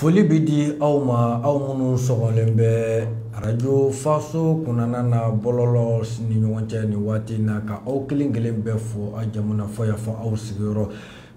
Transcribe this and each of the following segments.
foli bɛ di aw ma aw minnu sɔgɔlen bɛ arajo faso kunnana na bɔlɔlɔ ni ɲɔgɔn cɛ nin waati in na ka aw kelen kelen bɛɛ fo aw jamana fɔ y'a fɔ aw sigiyɔrɔ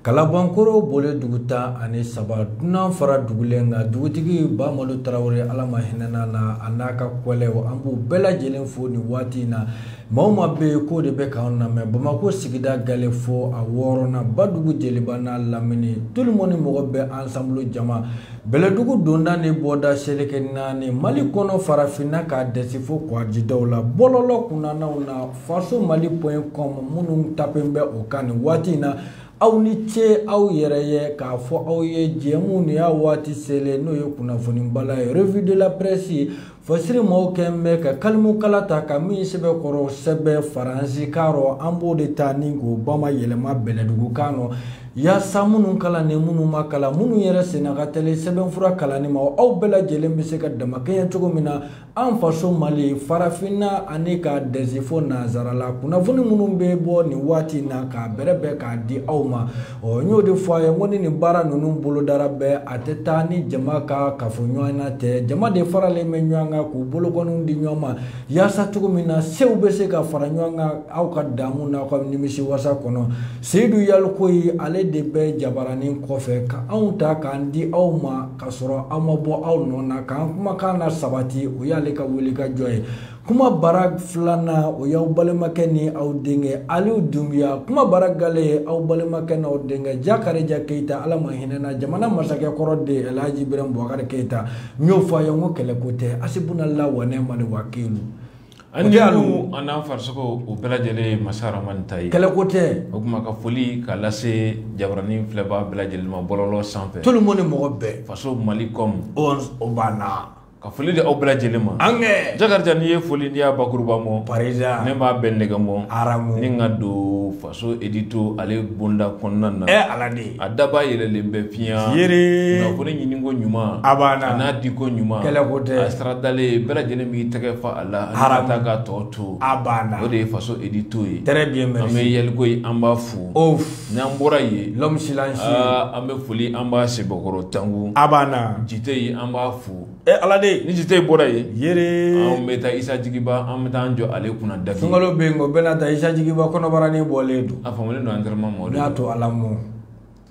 kalabankoro bole dugu tan ani saba dunan fara dugulen kan dugutigi bamadu tarawele ala ma hinɛna na a n'a ka kɔlɛw an b'u bɛɛ lajɛlen fo nin waati in na maa ma bɛ k'o de bɛ k'an lamɛn bamakɔ sigida gale fo a wɔɔrɔnan badugu jeliba n'a lamini tout le monde mɔgɔ bɛɛ ensemble jama bɛlɛdugu donda ni bɔda seleke naani mali kɔnɔ farafinna k'a dɛsɛ fo kɔgɔjidaw la bɔlɔlɔ kunnanaw na Faso mali point com minnu tapen bɛ o kan nin waati in na aw ni ce aw yɛrɛ ye k'a fɔ aw ye jɛmu ni y'a waati selen n'o ye kunnafonibala ye revue de la presse ye fasiri maaw kɛ bɛ ka kalimukala ta ka min sɛbɛn kɔrɔ sɛbɛn faransi kan rɔ an b'o de ta ni k'o bamayɛlɛma bɛlɛdugu kan rɔ yaasa minnu kalan ni minnu ma kalan minnu yɛrɛ senna ka tɛli sɛbɛnfura kalanni ma aw bɛɛ lajɛlen bɛ se ka damakɛɲɛ cogo min na An faso Mali, farafinna ani ka dɛsɛ fo nansara la, kunnafoni minnu bɛ bɔ nin waati in na k'a bɛrɛbɛn k'a di aw ma, ɔ n y'o de fɔ a ye, n ko ni nin baara ninnu bolodara bɛɛ, a tɛ taa ni jama ka kafoɲɔgɔnya tɛ. Jama de faralen bɛ ɲɔgɔn kan k'u bolokɔniw di ɲɔgɔn ma, yaasa cogo min na sew bɛ se ka fara ɲɔgɔn kan aw ka daamu n'aw ka nimisiwasa kɔnɔ. Seyidu Yalikoyi, ale de bɛ jabaranin kɔfɛ ka anw ta k'an di aw ma. Ka sɔrɔ aw ma bɔ aw nɔ na k'an kumakan na sabati o y'ale ka wuli ka jɔ ye kuma bara filanan o y'aw balimakɛ ni aw denkɛ aliw dunbiya kuma bara gale ye aw balimakɛ n'aw denkɛ jakarija keyita ala ma hinɛna jamana masakɛ kɔrɔ de alhaji birɛn bubakari keyita n y'o fɔ a ye n ko kɛlɛko tɛ hasbunallahu wa ni'mal wakilu An ni Alu an n'an farisogo o bɛɛ lajɛlen ye masa Rahamani ta ye. Kɛlɛko tɛ. O kuma ka foli k'a lase jabaranin filɛbaa bɛɛ lajɛlen ma bɔlɔlɔ sanfɛ. Tout le monde mɔgɔ bɛɛ. Faso Mali com o banna. Ka foli di aw bɛɛ lajɛlen ma. An kɛ! Jakarija n'i ye foli n'i y'a bakuruba mɔ. Parisaa! Ne b'a bɛɛ nɛgɛmɔ. Aramu! Ni ka don fa so edito ale bonda kɔnɔna na ɛ ala de a daba yɛlɛlen bɛ fiɲɛ yere kunnafoni ɲiniko ɲuman a banna a n'a diko ɲuman kɛlɛko tɛ a saradalen bɛɛ lajɛlen b'i tɛgɛ fa a la hara ta ka tɔ to a banna o de ye faso edito ye très bien merci an bɛ yalikoyi an b'a fo of n'an bɔra yen l'homme silencieux an bɛ foli an b'a sebakɔrɔ tangu a banna jiteyi an b'a fo e ala de ni jite bɔra yen yɛrɛ an bɛ taa isa jigiba an bɛ taa an jɔ ale kunna daki sunkalo bɛ yen ko bɛɛ na taa isa jigiba kɔnɔbaranin bɔlen don a famulen don antɛrɛma ma o de y'a to ala mɔ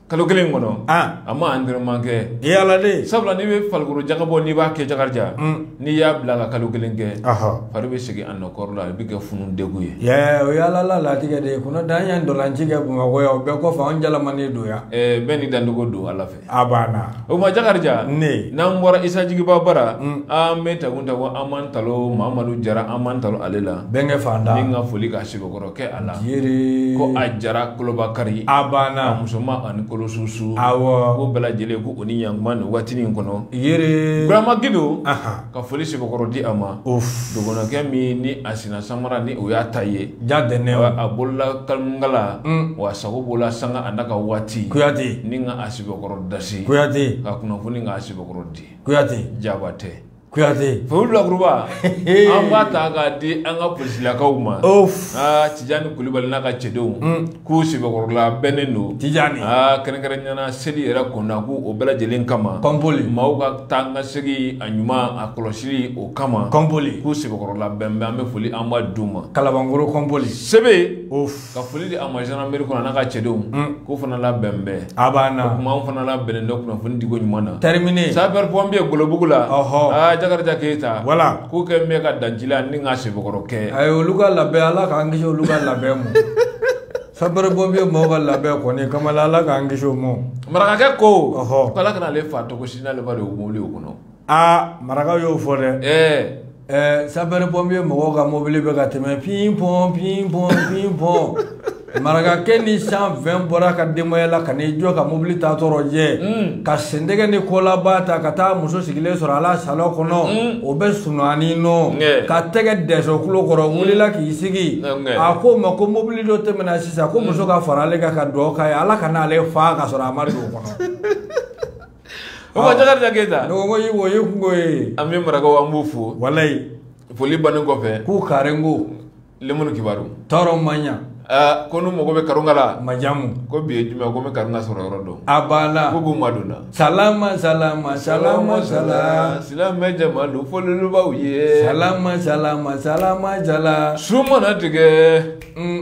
kalo kelen kɔnɔ a ma antɛrɛma kɛ e ala de sabula n'i bɛ farikolo jagabɔ n'i b'a kɛ jakarija n'i y'a bila ka kalo kelen kɛ fari bɛ segin a nɔ kɔrɔ la a bɛ kɛ funu degun ye yɛ o y'ala la latigɛ de ye kɔnɔ dan y'an dɔlanci kɛ bamakɔ yan o bɛɛ kɔfɛ an jalamanen don yan bɛɛ ni dancogo don ala fɛ A banna o ma Jakarija ne n'an bɔra Isa Jigiba bara an bɛ taku ta ko an b'an talo Mamadu Jara an b'an talo ale la bɛnkɛ fanda ni ka foli ka sɛbɛkɔrɔ kɛ a la yɛrɛ ko a Jara kolobakari a banna a musoma ani kolosusu awɔ ko bɛɛ lajɛlen ko u ni ɲantuma nin waatinin kɔnɔ yɛrɛ Burama Gindo anhan Ka foli sɛbɛkɔrɔ di a ma dɔgɔnɔkɛ min ni a sina samara ni o y'a ta ye ja tɛ ne a bolola kalmungala wa sago bolola sanga a n'a ka waati kuyate ni ka a sɛbɛkɔrɔ dasi kuyate ka kunnafoni ka sɛbɛkɔrɔ di kuyate jabatɛ kuyate foli lakuruba an b'a ta k'a di an ka polisilakaw ma tijani kulibali n'a ka cɛdenw k'u sɛbɛkɔrɔ labɛnnen don tijani aa kɛrɛnkɛrɛnya na seli yɛrɛ kɔnɔna ko o bɛɛ lajɛlen kama kɔnpoli maaw ka taa ni ka segin a ɲuman na kɔlɔsili o kama kɔnpoli k'u sɛbɛkɔrɔ labɛnnen bɛ an bɛ foli an b'a d'u ma kalabankoro kɔnpoli sebe ka foli di a ma zandarmeri kɔnɔ a n'a ka cɛdenw k'u fana labɛnnen bɛ A banna. O tuma anw fana labɛnnen don kunnafoni diko ɲuman na. Terminé. Sapeur pompier golobugu la. Ɔhɔ! Aa Jakarija Keyita. Wala! K'u kɛ bɛ ka dan ji la ni ka sɛbɛkɔrɔ kɛ. Ayi olu ka labɛn Ala k'an kisi olu ka labɛn ma. Sapeur pompier mɔɔw ka labɛn kɔni kamala Ala k'an kisi o ma. Marakakɛ ko. Ɔhɔ! K'Ala kana ale faa togosi n'ale ma don mobili o kɔnɔ. aa maraka y'o fɔ dɛ ɛɛ sapɛri pɔnpiye mɔgɔw ka mobili bɛ ka tɛmɛ pin pɔn pin pɔn pin pɔn marakakɛ ni cent vingt bɔra ka denbaya la ka n'i jɔ ka mobili ta tɔɔrɔ jɛ hmm. ka sentɛgɛ ni kɔlaba ta ka taa muso sigilen sɔrɔ a la salɔn kɔnɔ hmm. o bɛ sunuani nɔ ka tɛgɛ dɛsɛ tulo kɔrɔ hmm. wulila k'i sigi a k'o ma ko mobili dɔ tɛmɛna sisan ko muso ka fara ale kan ka dugawu k'a ye ala kana ale faa ka sɔrɔ a ma don o kɔnɔ o ma jakarija keyita ne ko yi o ye kungo ye an bɛ marakaw an b'u fo walayi foli bannen kɔfɛ k'u karen ko lemunu kibaru tɔɔrɔ man ɲa Ah, ko n'u mago bɛ karunga la majamu ko bi ye juma ko n bɛ karunga sɔrɔ yɔrɔ dɔn a banna ko b'u madonna salama salama salama sala silamɛ jama don fɔlɔlubaw ye salama salama salama jala su mana tigɛ mm.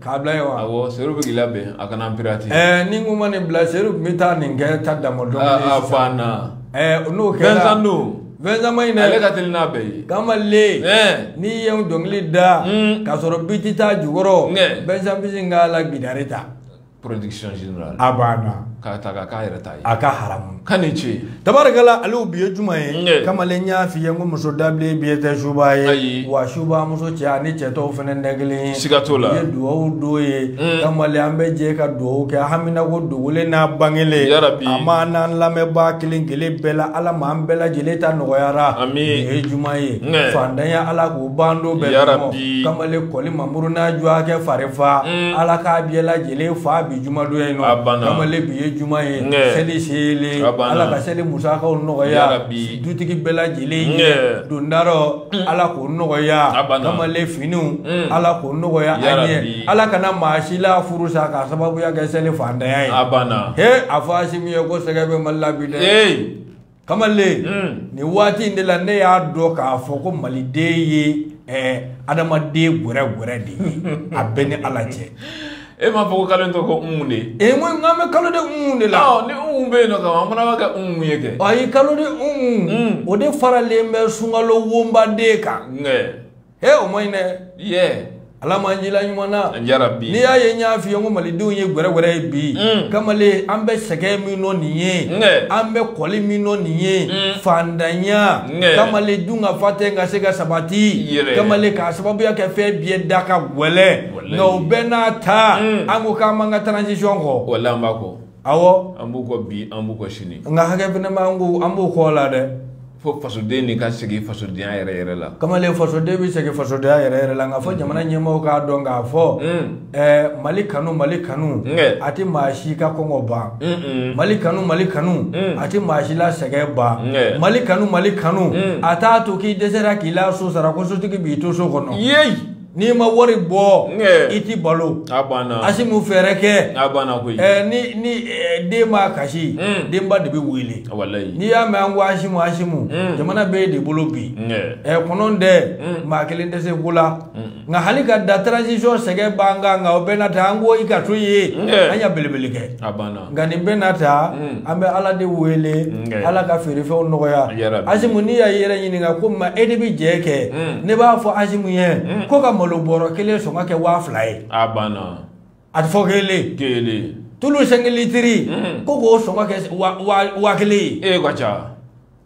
k'a bila ye wa awɔ seru bɛ k'i labɛn a kana pirati ɛɛ ni n kun ma nin bila seru tun bɛ taa nin kɛ ta dama dɔn aa fa na ɛɛ n'o kɛra fɛnsan don fɛnsan man ɲi dɛ ale ka teli n'a bɛɛ ye kamalen n'i ye n dɔnkili da k'a sɔrɔ biti t'a jukɔrɔ fɛnsan b'i sin k'a la gitari ta production générale a banna k'a ta k'a k'a yɛrɛ ta a ka haramu ka ni ce tabarikala ale bi ye juma ye kamalen y'a f'i ye ko muso dabilen biyɛ tɛ subaa ye wa subaa muso cɛ ani cɛ tɔw fana tɛ kelen ye siga t'o la ye duwawu don ye mm. kamalen an bɛ jɛ ka duwawu kɛ haminako dogolen n'a bangelen a ma n'an lamɛnbaa kelen kelen bɛɛ la ala ma an bɛɛ lajɛlen ta nɔgɔyara nin ye juma ye fantanya ala k'o ban du bɛɛ kɔnɔ kamalen kɔli mamuru n'a dɔgɔkɛ farifa mm. ala k'a bɛɛ lajɛlen ele fa bi juma don ye nɔ kamalen bi ye juma ye seli selen ala ka seli musakaw nɔgɔya dutigi bɛɛ lajɛlen ye dondarɔ mm. ala k'o nɔgɔya kamalen finiw mm. ala k'o nɔgɔya an ye ala kana maa si la furu sa k'a sababuya kɛ seli fantanya ye he a fɔ asimi ye ko sɛgɛ bɛ mali la bi dɛ kamalen hmm. nin waati in de la ne y'a dɔn k'a fɔ ko maliden ye eh, adamaden gwɛrɛgwɛrɛ de ye a bɛɛ ni ala cɛ e m'a fɔ ko kalo in tɔgɔ ko umu de e eh, n ko n k'an bɛ kalo de umu de la ni umu bɛ yen nɔ kama an fana b'a kɛ umu ye kɛ ayi kalo de umu hmm. o de faralen bɛ sunkalo wonbaden kan he o man ɲi dɛ yeah ala m'an jila ɲuman na yarabi n'i y'a ye n y'a f'i ye ko malidenw ye gwɛrɛgwɛrɛ ye bi mm. kamalen an bɛ sɛgɛn min nɔ nin ye an bɛ kɔli min nɔ nin ye mm. fandanya kamalen dunkafa tɛ ka se ka sabati kamalen k'a sababuya kɛ fɛn biyɛ da ka gwɛlɛ nka o bɛɛ n'a ta mm. an ko k'an b'an ka transition kɔ walahi an b'a kɔ awɔ an b'u kɔ bi an b'u kɔ sini nka hakɛ fana b'an ko an b'u kɔ la dɛ fo fasoden de ka segin fasodenya yɛrɛ yɛrɛ la kamalen fasoden bɛ segin fasodenya yɛrɛ yɛrɛ la nka fo jamana ɲɛmɔgɔw k'a dɔn k'a fɔ ɛɛ mali kanu mali kanu a tɛ maa si ka kɔngɔ ban mali kanu mali kanu a tɛ maa si la sɛgɛn ban mali kanu mali kanu a t'a to k'i dɛsɛra k'i la so sara ko sotigi b'i to so kɔnɔ yeyi N'i ma wari bɔ i tɛ balo asimu fɛɛrɛ kɛ ni den ma kasi denba de bɛ wele n'i y'a mɛn an ko asimu asimu jamana b'e de bolo bi kɔnɔntɛ maa kelen tɛ se ko la nka hali ka da transition sɛgɛn ban kan nka o bɛɛ n'a ta an ko i ka to yen an ɲa belebele kɛ nka nin bɛɛ n'a ta an bɛ ala de wele ala ka feerefɛnw nɔgɔya asimu n'i y'a yɛrɛ ɲininka ko ma e de bɛ jɛ kɛ ne b'a fɔ asimu ye ko ka malo bɔrɔ kelen sɔngɔ kɛ waa fila ye a banna a tɛ fɔ kelen kelen tulu sɛnki litiri ko k'o sɔngɔ kɛ waa kelen ye e ka ca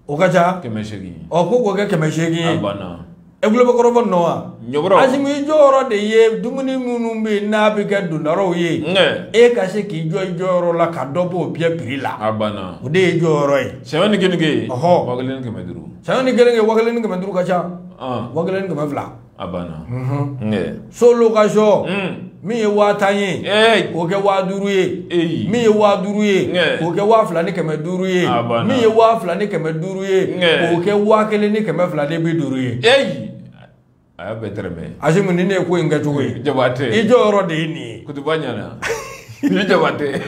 o ka ca kɛmɛ seegin ɔ ko k'o kɛ kɛmɛ seegin ye e tulo bɛ kɔrɔfɔ nɔ wa asimi i jɔyɔrɔ de ye dumuni minnu bɛ yen n'a bɛ kɛ dondarɔw ye e ka se k'i jɔ i jɔyɔrɔ la ka dɔ b'o biyɛ piri la o de y'i jɔyɔrɔ ye sɛbɛn ni keninge ɔhɔ waa kelen ni kɛmɛ duuru sɛbɛn ni keninge waa kelen ni kɛmɛ duuru ka ca waa kelen ni kɛmɛ fila a banna so location min ye waa tan ye k'o kɛ waa duuru ye min ye waa duuru ye k'o kɛ waa fila ni kɛmɛ duuru ye min ye waa fila ni kɛmɛ duuru ye k'o kɛ waa kelen ni kɛmɛ fila ni bi duuru ye a y'a bɛɛ tɛrɛmɛ asimu ni ne ye ko in kɛ cogo ye jabatɛ i jɔyɔrɔ de ye nin ye kutuba ɲana i jabatɛ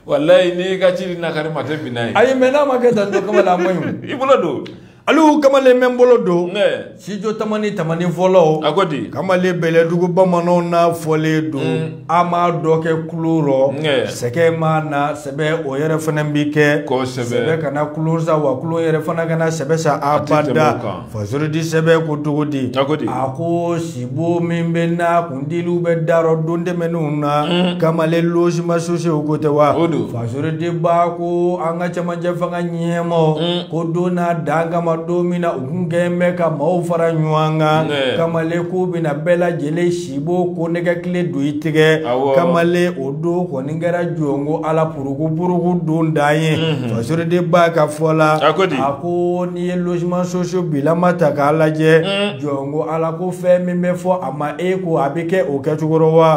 walayi n'i ka jiri na kari ma tɛ bin n'a ye ayi mɛ n'a ma kɛ tan don kamalen a man ɲi i bolo don alu kamalen bɛ n bolo don studio tamani tamani fɔlɔ a ko di kamalen bɛlɛdugu bamananw n'a fɔlen don mm. a m'a dɔ kɛ tulon rɔ sɛgɛ ma na sɛbɛ o yɛrɛ fana bi kɛ sɛbɛ kana tulon sa wa tulon yɛrɛ fana kana sɛbɛ sa abada Fasoriden sɛbɛ ko cogo di a ko sibon min bɛ na kun dili bɛ da rɔ don tɛmɛnenw na kamalen logement sociaux ko tɛ wa fasoriden ba ko an ka cɛmancɛ fanga ɲɛmaa ko don n'a dan kama don min na u tun kɛ bɛ ka maaw fara ɲɔgɔn kan kamalen k'u bɛna bɛɛ lajɛlen si bon kɔnnɛgɛ kile don i tigɛ kamalen o don kɔni kɛra jɔn ko ala puruku puruku don dan ye fasoriden ba ka fɔ la a ko n'i ye logement social bilama ta k'a lajɛ jɔn ko ala ko fɛn min bɛ fɔ a ma e ko a bɛ kɛ o kɛcogo rɔ wa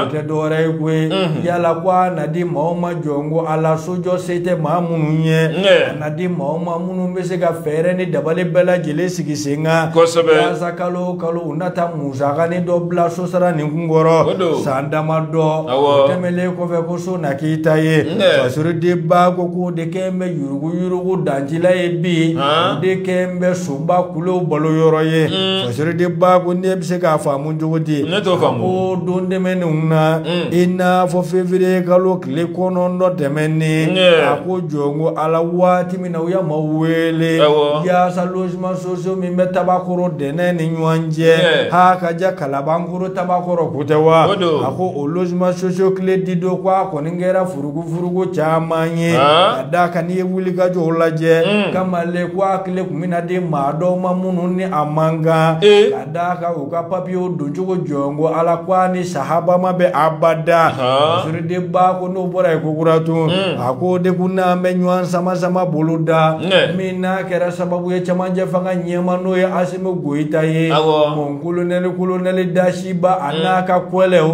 o tɛ dɔwɛrɛ ye koyi yala ko a na di maaw ma jɔn ko ala sojɔ se tɛ maa minnu ye a na di maaw ma minnu bɛ se ka fɛɛrɛ ni dabali bɛɛ lajɛlen sigi sen kan yaasa kalo o kalo u na taa musakanin dɔ bila sosara nin kun kɔrɔ san dama dɔ o tɛmɛlen kɔfɛ ko so na k'i ta ye fasoriden ba ko k'o de kɛ bɛ yurugu yurugu dancila ye bi o de kɛ bɛ soba kulo balo yɔrɔ ye mm. fasoriden ba ko ne bɛ se k'a faamu cogo di ko don tɛmɛnenw na mm. i n'a fɔ fevrier kalo tile kɔnɔntɔn tɛmɛnen a ko jɔn ko ala waati u ye maaw wele yaasa logement social min bɛ tabakɔrɔ de ne ni ɲɔgɔn cɛ ha ka diya kalabankɔrɔ tabakɔrɔ ko tɛ wa a ko o logement social kile di don ko a kɔni kɛra furuku furuku caman ye a da kan n'i ye wulikajɔ lajɛ kamalen ko a kile tun bɛ na di maa dɔw ma minnu ni a man kan ka da kan u ka papiyew don cogo jɔn ko ala ko a ni sahaba ma bɛn abada fasoriden ba ko n'o bɔra yen kokura tun hmm. a ko de ko n'an bɛ ɲɔgɔn sama sama bolo da min n'a kɛra sababu ye cɛmancɛ fanga ɲɛmaa n'o ye asimi goyita ye mɔn kolonɛli kolonɛli dasiba a hmm. n'a ka kɔlɛw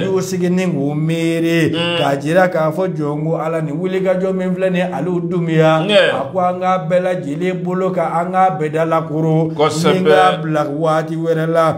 y'u sigi ni k'u miiri hmm. k'a jira k'a fɔ jɔn ko ala ni wulikajɔ min filɛ nin ye alu dumiya a ko an k'a bɛɛ lajɛlen i b'i bolo ka an k'a bɛɛ dalakuru Kosɛbɛ. ni k'a bila waati wɛrɛ la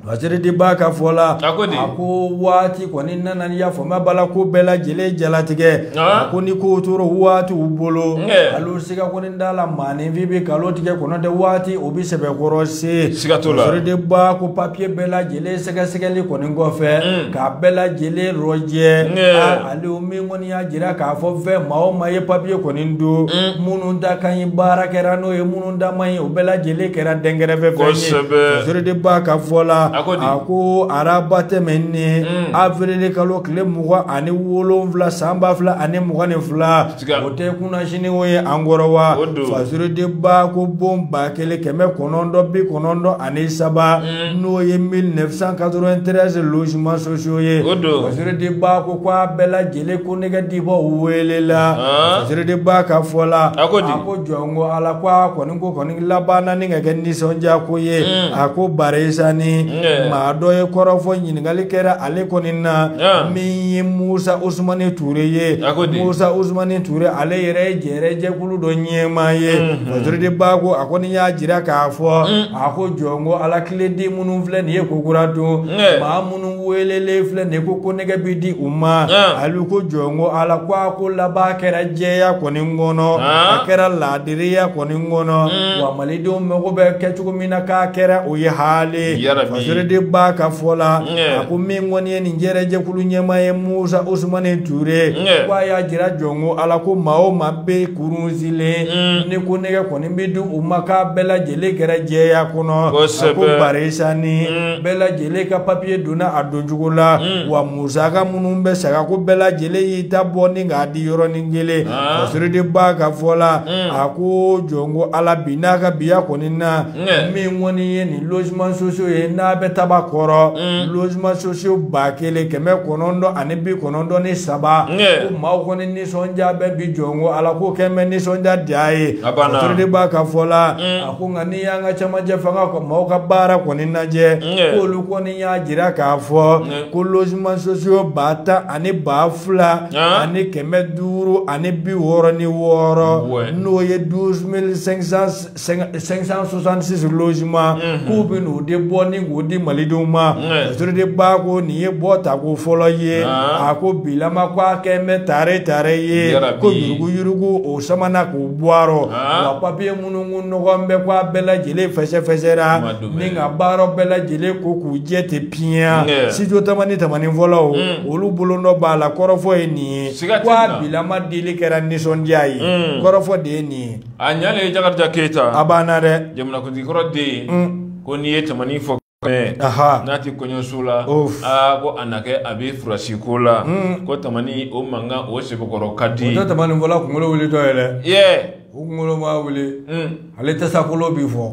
Fasirideba ka fɔ la A ko di? a ko waati kɔni nana n'i y'a fɔ maa b'a la ko bɛɛ lajɛlen jalatigɛ Ah. a ko ni ko tora waatiw bolo Nkɛ. alo siga kɔni da la maaninfin bɛ kalo tigɛ kɔnɔ tɛ waati o bɛ sɛbɛkɔrɔ se Siga t'o la. Fasirideba ko papiye bɛɛ lajɛlen sɛgɛsɛgɛli kɔni kɔfɛ k'a bɛɛ lajɛlen rɔjɛ Nkɛ. Ah, ale o min kɔni y'a jira k'a fɔ fɛn maa o maa ye papiye kɔni don minnu da ka ɲi baara kɛra n'o ye minnu da man ɲi o bɛɛ lajɛlen kɛra dɛnkɛrɛfɛ fɛn ye Kosɛbɛ. Fasirideba ka fɔ la A ko di? a ko araba tɛmɛnen avril kalo tile mugan ani wolonwula san ba fila ani mugan ni fila Siga. o tɛ kunasini o ye an kɔrɔ wa O don. Fasirideba ko bon ba kelen kɛmɛ kɔnɔntɔn bi kɔnɔntɔn ani saba n'o ye 1993 logement sociaux ye o don Fasirideba ko ko a bɛɛ lajɛlen konnɛgɛ dibɔ welela Fasirideba ka fɔ la a ko di a ko jɔn ko ala ko a kɔni ko kɔni labanna ni ka kɛ nisɔndiya ko ye a ko barisani maa dɔ ye kɔrɔfɔ ɲininkali kɛra ale kɔni na min ye Musa Usumani Ture ye Musa Usumani Ture ale yɛrɛ ye jɛrɛjɛ kulu dɔ ɲɛmaa ye Fasirideba ko a kɔni y'a jira k'a fɔ mm. a ko jɔn ko ala kile di minnu filɛ nin ye kokura don maa minnu welelen filɛ nin ye ko konnɛgɛ bɛ di u ma ale ko jɔn ko ala ko a ko laban kɛra jɛya kɔni kɔnɔ a kɛra laadiriya kɔni kɔnɔ mm. wa malidenw mago bɛ kɛ cogo min na k'a kɛra o ye hali Fasirideba ka fɔ la a ko min kɔni ye nin jɛrɛjɛkulu ɲɛmaa ye musa usumani ture ko a y'a jira jɔn ko ala ko maa o maa bɛ kurun silen mm. ni konnɛgɛ kɔni bɛ di u ma k'a bɛɛ lajɛlen kɛra jɛya kɔnɔ a ko barisani mm. bɛɛ lajɛlen ka papiye donna a doncogo la mm. wa musaka minnu bɛ sara ko bɛɛ lajɛlen y'i ta bɔ ni k'a di yɔrɔnin kelen ah. Fasirideba ka fɔ la a ko jɔn ko ala bi n'a ka biya kɔni na min kɔni ye nin logement sociaux ye n'a bɛ Tabakɔrɔ mm. logement sociaux ba kelen kɛmɛ kɔnɔntɔn ani bi kɔnɔntɔn ni saba ko maaw kɔni nisɔndiya bɛ bi jɔn ko ala ko kɛlen bɛ nisɔndiya di a ye Fasirideba ka fɔ la mm. a ko nka n'i y'an ka cɛmancɛ fanga kɔ maaw ka baara kɔni lajɛ k'olu kɔni y'a jira k'a fɔ ko logement sociaux ba tan ani ba fila ani kɛmɛ duuru ani bi wɔɔrɔ ni wɔɔrɔ n'o ye douze mille cinq cent 566 logement mhm. k'u bɛ n'o de bɔ ni k'o di malidenw ma Fasirideba ko nin ye bɔ tako fɔlɔ ye a ko bilama ko a kɛlen bɛ tare tare ye ko yurugu yurugu o samana k'o bɔ a rɔ wa papiye minnu ko nɔgɔlen bɛ ko a bɛɛ lajɛlen fɛsɛfɛsɛra ni k'a bɔ a rɔ bɛɛ lajɛlen ko k'u jɛ tɛ piɲɛ sijo tamani tamani fɔlɔw mm. olu bolo nɔ b'a la kɔrɔfɔ ye nin ye ko a bilama dili kɛra nisɔndiya ye mm. kɔrɔfɔ de ye nin ye a ɲalen ye jakarija keyita a banna dɛ jamanakuntigikɔrɔ den ye mm. ko n'i ye tamani fɔ n'a tɛ kɔɲɔso la aa ko a na kɛ a bɛ furasi ko la mm. ko tamani o mankan o sɛbɛkɔrɔ ka di o tɛ tamani fɔla kunkolo wuli dɔ ye dɛ yɛ o kunkolo ma wuli mm. ale tasakolo bi fɔ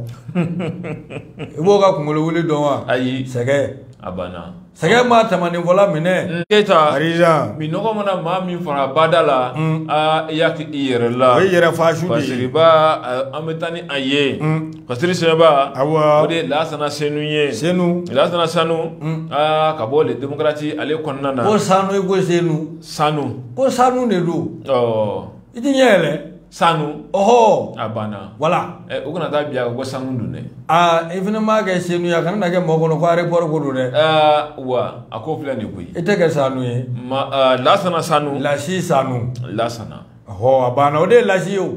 i b'o ka kunkolo wuli dɔn wa ayi sɛgɛn a banna Sɛgɛn ma tamaninfɔla minɛ keyita minnɔgɔ mana maa min faga bada la i y'a kɛ i yɛrɛ la o yɛrɛ fasiriba an bɛ taa ni a ye fasiri sɛba o de ye lasana senu ye senu lasana sanu aa ka bɔ les démocrates ale kɔnɔna na ko sanu ko senu sanu ko sanu de don i tɛ ɲɛ yɛlɛ sanu ɔhɔ a banna wala ɛ u kana taa bi a ko sanu dun dɛ aa i fana m'a kɛ senu ye a kana na kɛ mɔgɔ kɔnɔ ko aéroport ko don dɛ aa wa a ko filɛ nin koyi i tɛ kɛ sanu ye ma aa lasana sanu lasi sanu lasana ɔhɔ a banna o de ye lasi ye o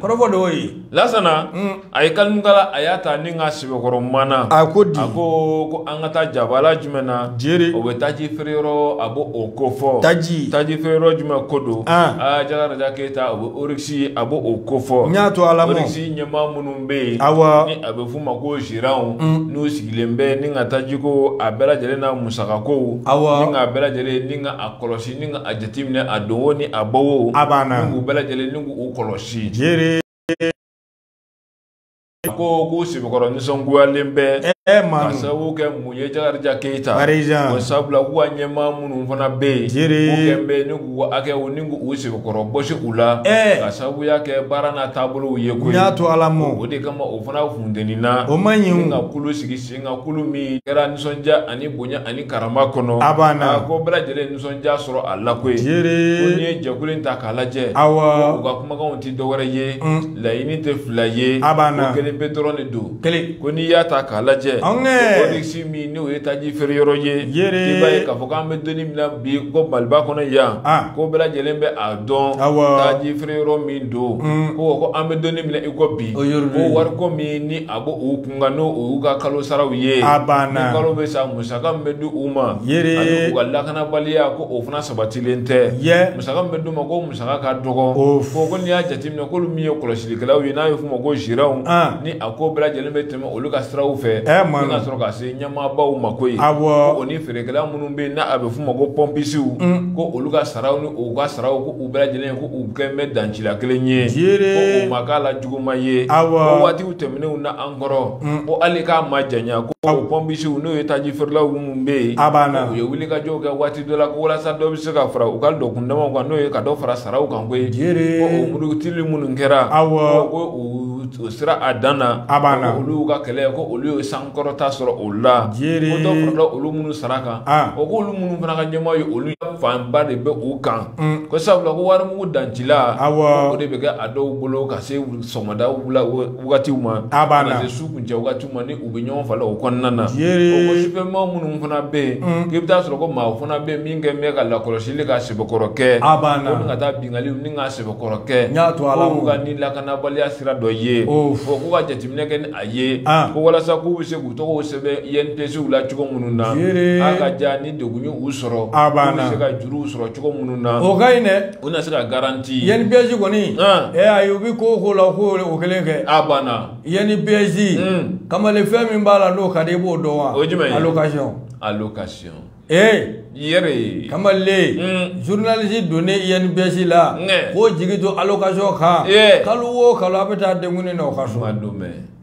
kɔrɔfɔ de y'o ye lasana a ye kalimukala a y'a ta ni ka sɛbɛkɔrɔ mana a ko di a ko ko an ka taa jabala jumɛn na jeri o bɛ taji feere yɔrɔ a b'o o ko fɔ taji taji feere yɔrɔ jumɛn ko don aa jakaraja keyita o bɛ oryx a b'o o ko fɔ n y'a to ala mɔ oryx ɲɛmaa minnu bɛ yen awɔ ni a bɛ f'u ma ko gérants n'u sigilen bɛ ni ka taji ko a bɛɛ lajɛlen n'a musakakow awɔ ni k'a bɛɛ lajɛlen ni ka a kɔlɔsi ni ka a jateminɛ a don o ni a bɔ o a banna ni k'u bɛɛ lajɛlen ni k'u kɔlɔsi jeri ko k'u sɛbɛkɔrɔ nisɔngoyalen bɛ ɛ ma ka sababu kɛ mun ye jakarija keyita arijan o sabula k'u ka ɲɛmaa minnu fana bɛ yen jeri k'u kɛlen bɛ ni k'u hakɛw ni k'u sɛbɛkɔrɔ bɔsi u la ɛ ka sababuya kɛ baara n'a taabolow ye koyi n y'a to ala mɔ o de kama o fana funteni na o man ɲi ka kulu sigi Sen kan kulu min kɛra nisɔndiya ani bonya ani karama kɔnɔ a banna ko bɛɛ lajɛlen nisɔndiya sɔrɔ a la koyi ko n'i ye jɛkulu in ta k'a lajɛ awɔ u ka kumakanw tɛ dɔwɛrɛ ye laɲini tɛ fila ye a banna ko kelen pe dɔrɔn de don kelen ko n'i y'a ta k'a lajɛ oryx min n'o ye taji feere yɔrɔ ye i b'a ye k'a fɔ k'an bɛ don in min na bi ko maliba kɔnɔ yan ko bɛɛ lajɛlen bɛ a dɔn taji feere yɔrɔ min don ko ko an bɛ don in min na i ko bi ko wari ko min ni a bɔ o nka n'o y'u ka kalo saraw ye a banna ni kalo bɛ sa musaka min bɛ di u ma jeri ani u ka lakanabaliya ko o fana sabatilen tɛ yɛ musaka min bɛ d'u ma ko musaka ka dɔgɔ o fɔ ko n'i y'a jateminɛ k'olu min ye kɔlɔsilikɛlaw ye n'a bɛ f'u ma ko gérants ni a ko bɛɛ lajɛlen bɛ tɛmɛ olu ka siraw fɛ ɛ ma ka sɔrɔ ka se ɲɛmaabaw ma koyi awɔ o ni feerekɛla minnu bɛ yen n'a bɛ f'u ma ko pɔnpisiw ko olu ka saraw ni u ka saraw ko u bɛɛ lajɛlen ko u kɛlen bɛ dancila kelen ye jeri ko o ma k'a la juguma ye ko waatiw tɛmɛnenw na an kɔrɔ mm. ko hali k'a ma janya ko o pɔnpisiw n'o ye taji feerelaw minnu bɛ yen a b'a na u ye wulikajɔw kɛ waati dɔ la ko walasa dɔ bɛ se ka fara u ka dɔkun damaw kan n'o ye ka dɔ fara saraw kan koyi ko o murutili minnu kɛra ko o sera a dan na a b'a na olu ka kɛlɛ ko olu ye sankɔrɔta sɔrɔ o la ko dɔ farala olu minnu sara kan o ko olu minnu fana ka ɲɛmaa ye olu fanba de bɛ u kan ko sabula ko warimugu dancila o de bɛ kɛ a dɔw bolo ka se sɔgɔmada wagatiw ma ka se su kuncɛ wagatiw ma ni u bɛ ɲɔgɔn falen o kɔnɔna na ko sufɛmaa minnu fana bɛ yen mm. k'i bɛ taa sɔrɔ ko maa fana bɛ yen min kɛ bɛ ka lakɔlɔsili ka sɛbɛkɔrɔ kɛ a b'a la ko ka taa binkali ni ka sɛbɛkɔrɔ kɛ n y'a to ala ko ka ni lakanabaliya sira dɔ ye ko k'u ka jateminɛ kɛ ni a ye ah. ko walasa k'u bɛ se k'u tɔgɔw sɛbɛn INPS la cogo minnu na a ka ja ni degun y'u sɔrɔ k'u bɛ se ka juruw sɔrɔ cogo minnu na o ka ɲi dɛ u na se ka garanti INPS kɔni ɛ ayi u bɛ ko o ko la u k'o kelen kɛ a banna INPS hmm. kamalen fɛn min b'a la n'o ka di i b'o dɔn wa o ye jumɛn ye allocation allocation ee yɛrɛ kamalen hmm. journaliste donnen INPS la k'o jigi to allocation kan kalo o kalo a bɛ taa denkundi na o ka so a don mɛ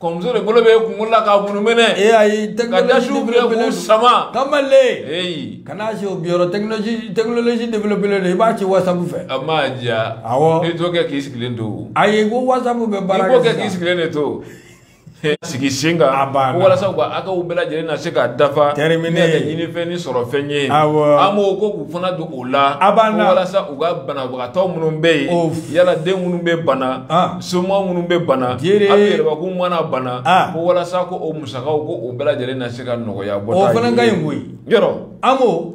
kɔmuso de bolo bɛ kunkolo la k'a munumɛnɛ ee ayi ka dasiw minɛ k'u sama kamale eyi kana se o biyɔrɔ tɛkinoloji tɛkinoloji developelen don i b'a ci wasapu fɛ a ma diya awɔ i t'o kɛ k'i sigilen to ayi ko wasapu bɛ baara kɛ sisan i b'o kɛ k'i sigilen de to sigi sen kan a banna walasa u ka hakɛw bɛɛ lajɛlen na se ka dafa termine ne ka ɲinifɛn ni sɔrɔfɛn ye awɔ AMO ko k'u fana don o la a banna walasa u ka banabagatɔ minnu bɛ yen yala den minnu bɛ bana somaa minnu bɛ bana hali a yɛrɛbakun mana bana ko walasa ko o musakaw ko o bɛɛ lajɛlen na se ka nɔgɔya bɔ o fana ka ɲi koyi yɔrɔ AMO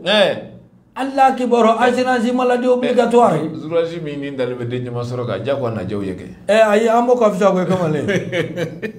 ala kibaru assurance maladie obligatoire assurance min ni dalen bɛ den ɲɛma sɔrɔ ka diya ko a najɛw ye kɛ ɛ ayi AMO ka fisa koyi kamalen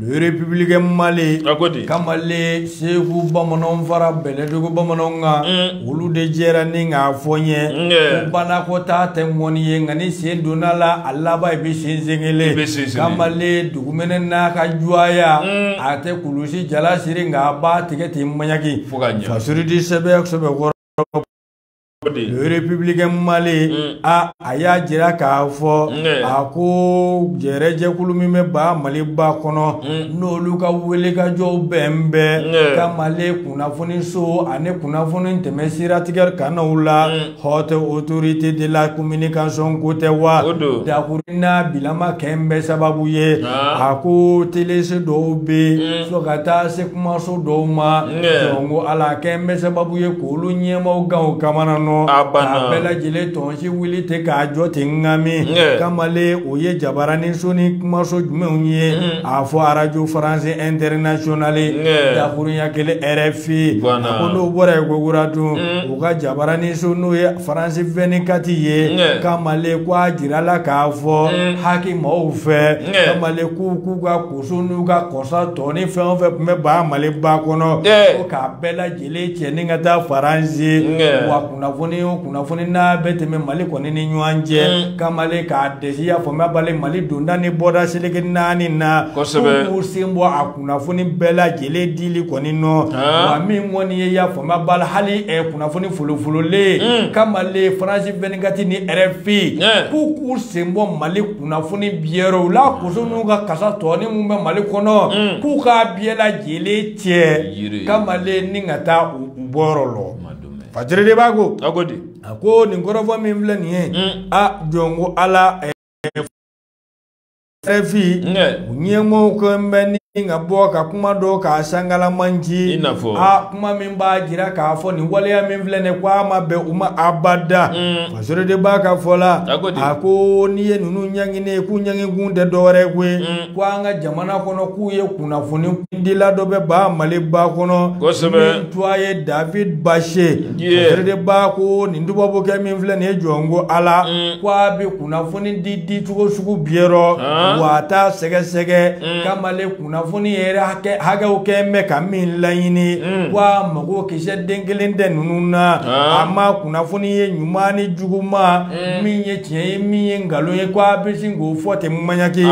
Le Républicain Mali kamalen segu bamanan fara bɛlɛdugu bamanan kan olu de jɛra ni k'a fɔ n ye banakɔtaa tɛ ŋɔni ye nka n'i sen donna a la a laban i bɛ sen sen kelen kamalen dugumɛnɛ n'a ka jɔya a tɛ kulusijala siri nka a b'a tigɛ ten ɲumanɲaki fo ka surudi sɛbɛkɔrɔ Républicain Mali mm. a a y'a jira k'a fɔ mm. a ko jɛrɛjɛkulu min bɛ ba Maliba kɔnɔ mm. n'olu ka wulikajɔw bɛn bɛ ka Mali kunnafoniso ani kunnafoni tɛmɛ siratigɛ kannaw la haute autorité de la communication ko tɛ wa dakuru n'a bilama kɛn bɛ sababu ye ah. a ko teleso dɔw bɛ fo ka taa se kumaso dɔw ma jɔnko ala kɛn bɛ sababu ye olu ɲɛmaaw kan o kamana nɔ ah. k'a bɛɛ lajɛlen tɔnsi wuli ten k'a jɔ ten ŋami mm. kamalen o ye jabaranin so ni kumaso jumɛnw ye a fɔ arajo faransi ɛntɛrinasiyonali mm. dakurunya kɛlen rfi mm. a ko n'o bɔra yen kokura tun u ka jabaranin so n'o ye faransi vɛnikati ye mm. kamalen ko a jirala k'a fɔ haki maaw fɛ mm. kamalen k'u k'u ka koso n'u ka kasa tɔnin fɛn o fɛn tun bɛ ba maliba kɔnɔ mm. ko k'a bɛɛ lajɛlen kele cɛ ni ka taa faransi wa kunnafoni o kunnafoni n'a bɛ tɛmɛ mali kɔni ni ɲɔgɔn cɛ mm. kamalen k'a dɛsɛ y'a faamuya bali mali donda ni bɔda seleke naani na k'u sen bɔ a kunnafoni bɛɛ lajɛlen dili kɔni nɔ wa min kɔni ye y'a faamuya bali hali eh, kunnafoni folofololen mm. kamalen faransi vɛnikati ni rfi k'u k'u sen bɔ mali kunnafoni diyɔrɔw la koso n'u ka kasa tɔnin min bɛ mali kɔnɔ mm. k'u k'a biyɛ lajɛlen cɛ kamalen ni ka taa u bɔyɔrɔ lɔ fasere de b'a ko a ko di a ko nin kɔrɔfɔ min filɛ nin ye mm. a jɔn ko ala rfi u ɲɛmɔgɔw ko n bɛ ni ka bɔ ka kuma dɔ k'a sankalamanci a kuma min b'a jira k'a fɔ nin waleya min filɛ nin ko a ma bɛn u ma abada mm. fasere de b'a ka fɔ la a ko n'i ye ninnu ɲangini ye k'u ɲanginkun tɛ dɔwɛrɛ ye koyi mm. ko an ka jamana kɔnɔ k'u ye kunnafoni dila dɔ bɛ ba maliba kɔnɔ min tuwa ye david bashe fasere de b'a ko nin tubabukɛ min filɛ nin ye jɔn ko ala mm. ko a bɛ kunnafoni di dicogo sugu biyɛ rɔ ah. wa a t'a sɛgɛsɛgɛ mm. kamalen kunnafoni yɛrɛ hakɛw kɛ mɛ ka min laɲini mm. ko a mago kisɛ den kelen tɛ ninnu na ah. a ma kunnafoni ye ɲuman ni juguman min ye tiɲɛ ye min ye nkalon ye ko a bɛ sin k'o fɔ ten maɲaki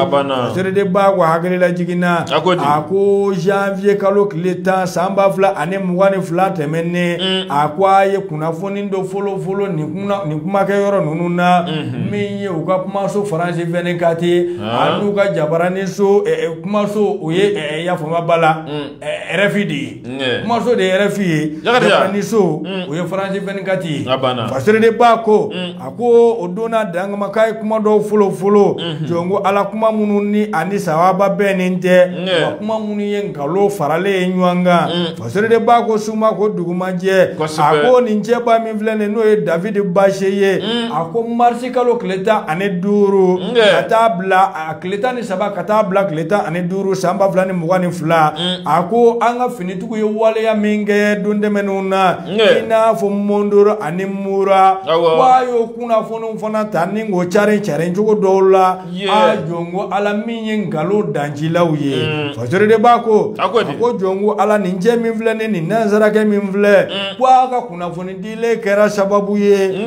sere de b'a ko hakililajigin na a ko janvier kalo tile tan san ba fila ani mugan ni fila tɛmɛnnen mm. a ko a ye kunnafoni dɔ folofolo nin kumakɛ yɔrɔ ninnu na mm-hmm. min ye u ka kumaso faransi vɛnikati ah. an'u ka jabaranin so eh, eh, kumaso o ye eh, yafa n ma bala mm. rfi de ye kumaso de ye rfi ye jabaranin so o ye faransi vɛnikati ye fasere de b'a ko a ko o donna dangamaka ye kuma dɔw folofolo jɔn ko ala kuma minnu ni ani sawaba bɛnnen tɛ wa kuma minnu ye nkalo faralen ye ɲɔgɔn kan fasere de b'a ko su ma ko dugu ma jɛ a ko nin cɛba min filɛ nin n'o ye david bashe ye a ko marisi kalo tile tan ani duuru ka taa bila a tile tan ni saba ka taa bila tile tan ani duuru san ba fila ni mugan ni fila mm. a ko an ka finitigiw ye waleya min kɛ don tɛmɛnenw na i n'a fɔ mondoro ani mura wa y'o kunnafoniw fana ta ni k'o cari cari cogo dɔw la a jɔnko ala min ye nkalon dancilaw ye mm. fasori de b'a ko a ko jɔnko ala nin cɛ min filɛ ni nin nansarakɛ min filɛ mm. ko a ka kunnafoni dilen kɛra sababu ye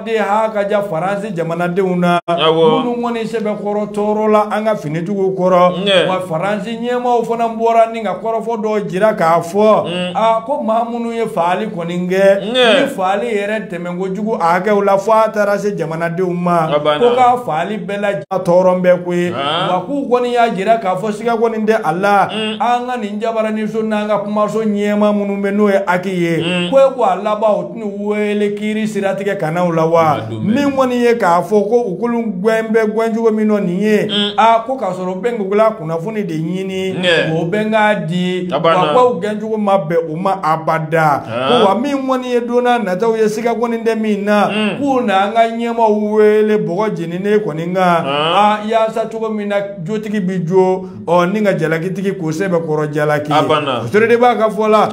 dɛ ha ka ja faransi jamanadenw na minnu kɔni sɛbɛkɔrɔ tɔɔrɔla an ka finitigiw kɔrɔ wa faransi ɲɛmaaw fana bɔra ni ka kɔrɔfɔ dɔ jira k'a fɔ mm. a ko maa minnu ye faali kɔni kɛ ni faali yɛrɛ tɛmɛn kojugu a hakɛw la fo a taara se jamanadenw ma ko ka faali bɛɛ la tɔɔrɔ bɛɛ ko ye ah. wa k'u kɔni y'a jira k'a fɔ siga kɔni tɛ a la mm. an ka nin jabaraniso n'an ka kumaso ɲɛmaa minnu bɛ n'o ye HAC ye mm. ko e ko a laban weele kiiri siratigɛ kanw la wa min kɔni ye k'a fɔ ko u kulu gɛn bɛ gɛncogo min nɔ nin ye aa ko k'a sɔrɔ bɛnkugula kunnafoni de ɲini o bɛ k'a di wa u gɛncogo ma bɛn u ma abada ko wa min kɔni ye donna nataw ye siga kɔni tɛ min na k'u na an ka ɲɛmaw weele bɔgɔ jeninen kɔni kan aa yaasa cogo min na jotigi bɛ jo ɔ ni ka jalakitigi k'o sɛbɛkɔrɔ jalaki o de b'a ka fɔ la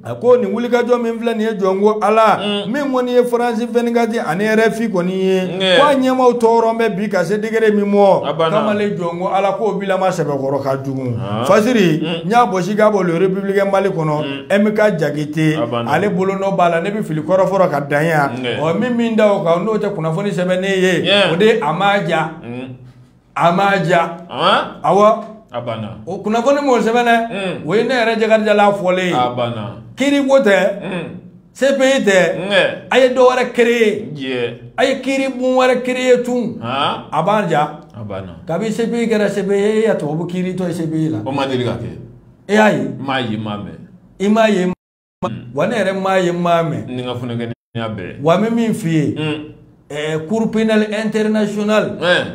a ko nin wulikajɔ min filɛ nin ye jɔn ko ala mm. min kɔni ye faransi vingt-quatre ani RFI kɔni ye ko a ɲɛmaw tɔɔrɔ bɛ bi ka se degré min mɔ kamalen jɔn ko ala k'o bilama sɛbɛkɔrɔ ka jugu ah. fasiri mm. n y'a bɔsi k'a bɔ le républicain mali kɔnɔ mm. MK Jakite ale bolo nɔ b'a la ne bɛ fili kɔrɔfɔrɔ ka dan yan ɔ min min da o kan n'o tɛ kunnafoni sɛbɛnnen ye o de a ma ja a ma diya awa a banna o kunnafoni m'o sɛbɛn dɛ o ye ne yɛrɛ Jakarija la fɔlen ye a banna kiri ko tɛ CPI tɛ a ye dɔ wɛrɛ créer a ye kiri bon wɛrɛ créer tun a b'a diya a banna kabi CPI kɛra CPI ye e ye tubabu kiritɔ ye CPI la o ma deli ka kɛ e y'a ye n m'a ye n m'a mɛn i m'a ye Mm. wa ne yɛrɛ m'a ye n m'a mɛn ne ka funukɛninya bɛɛ wa n bɛ min f'i ye mm. eh, cour pénale internationale eh.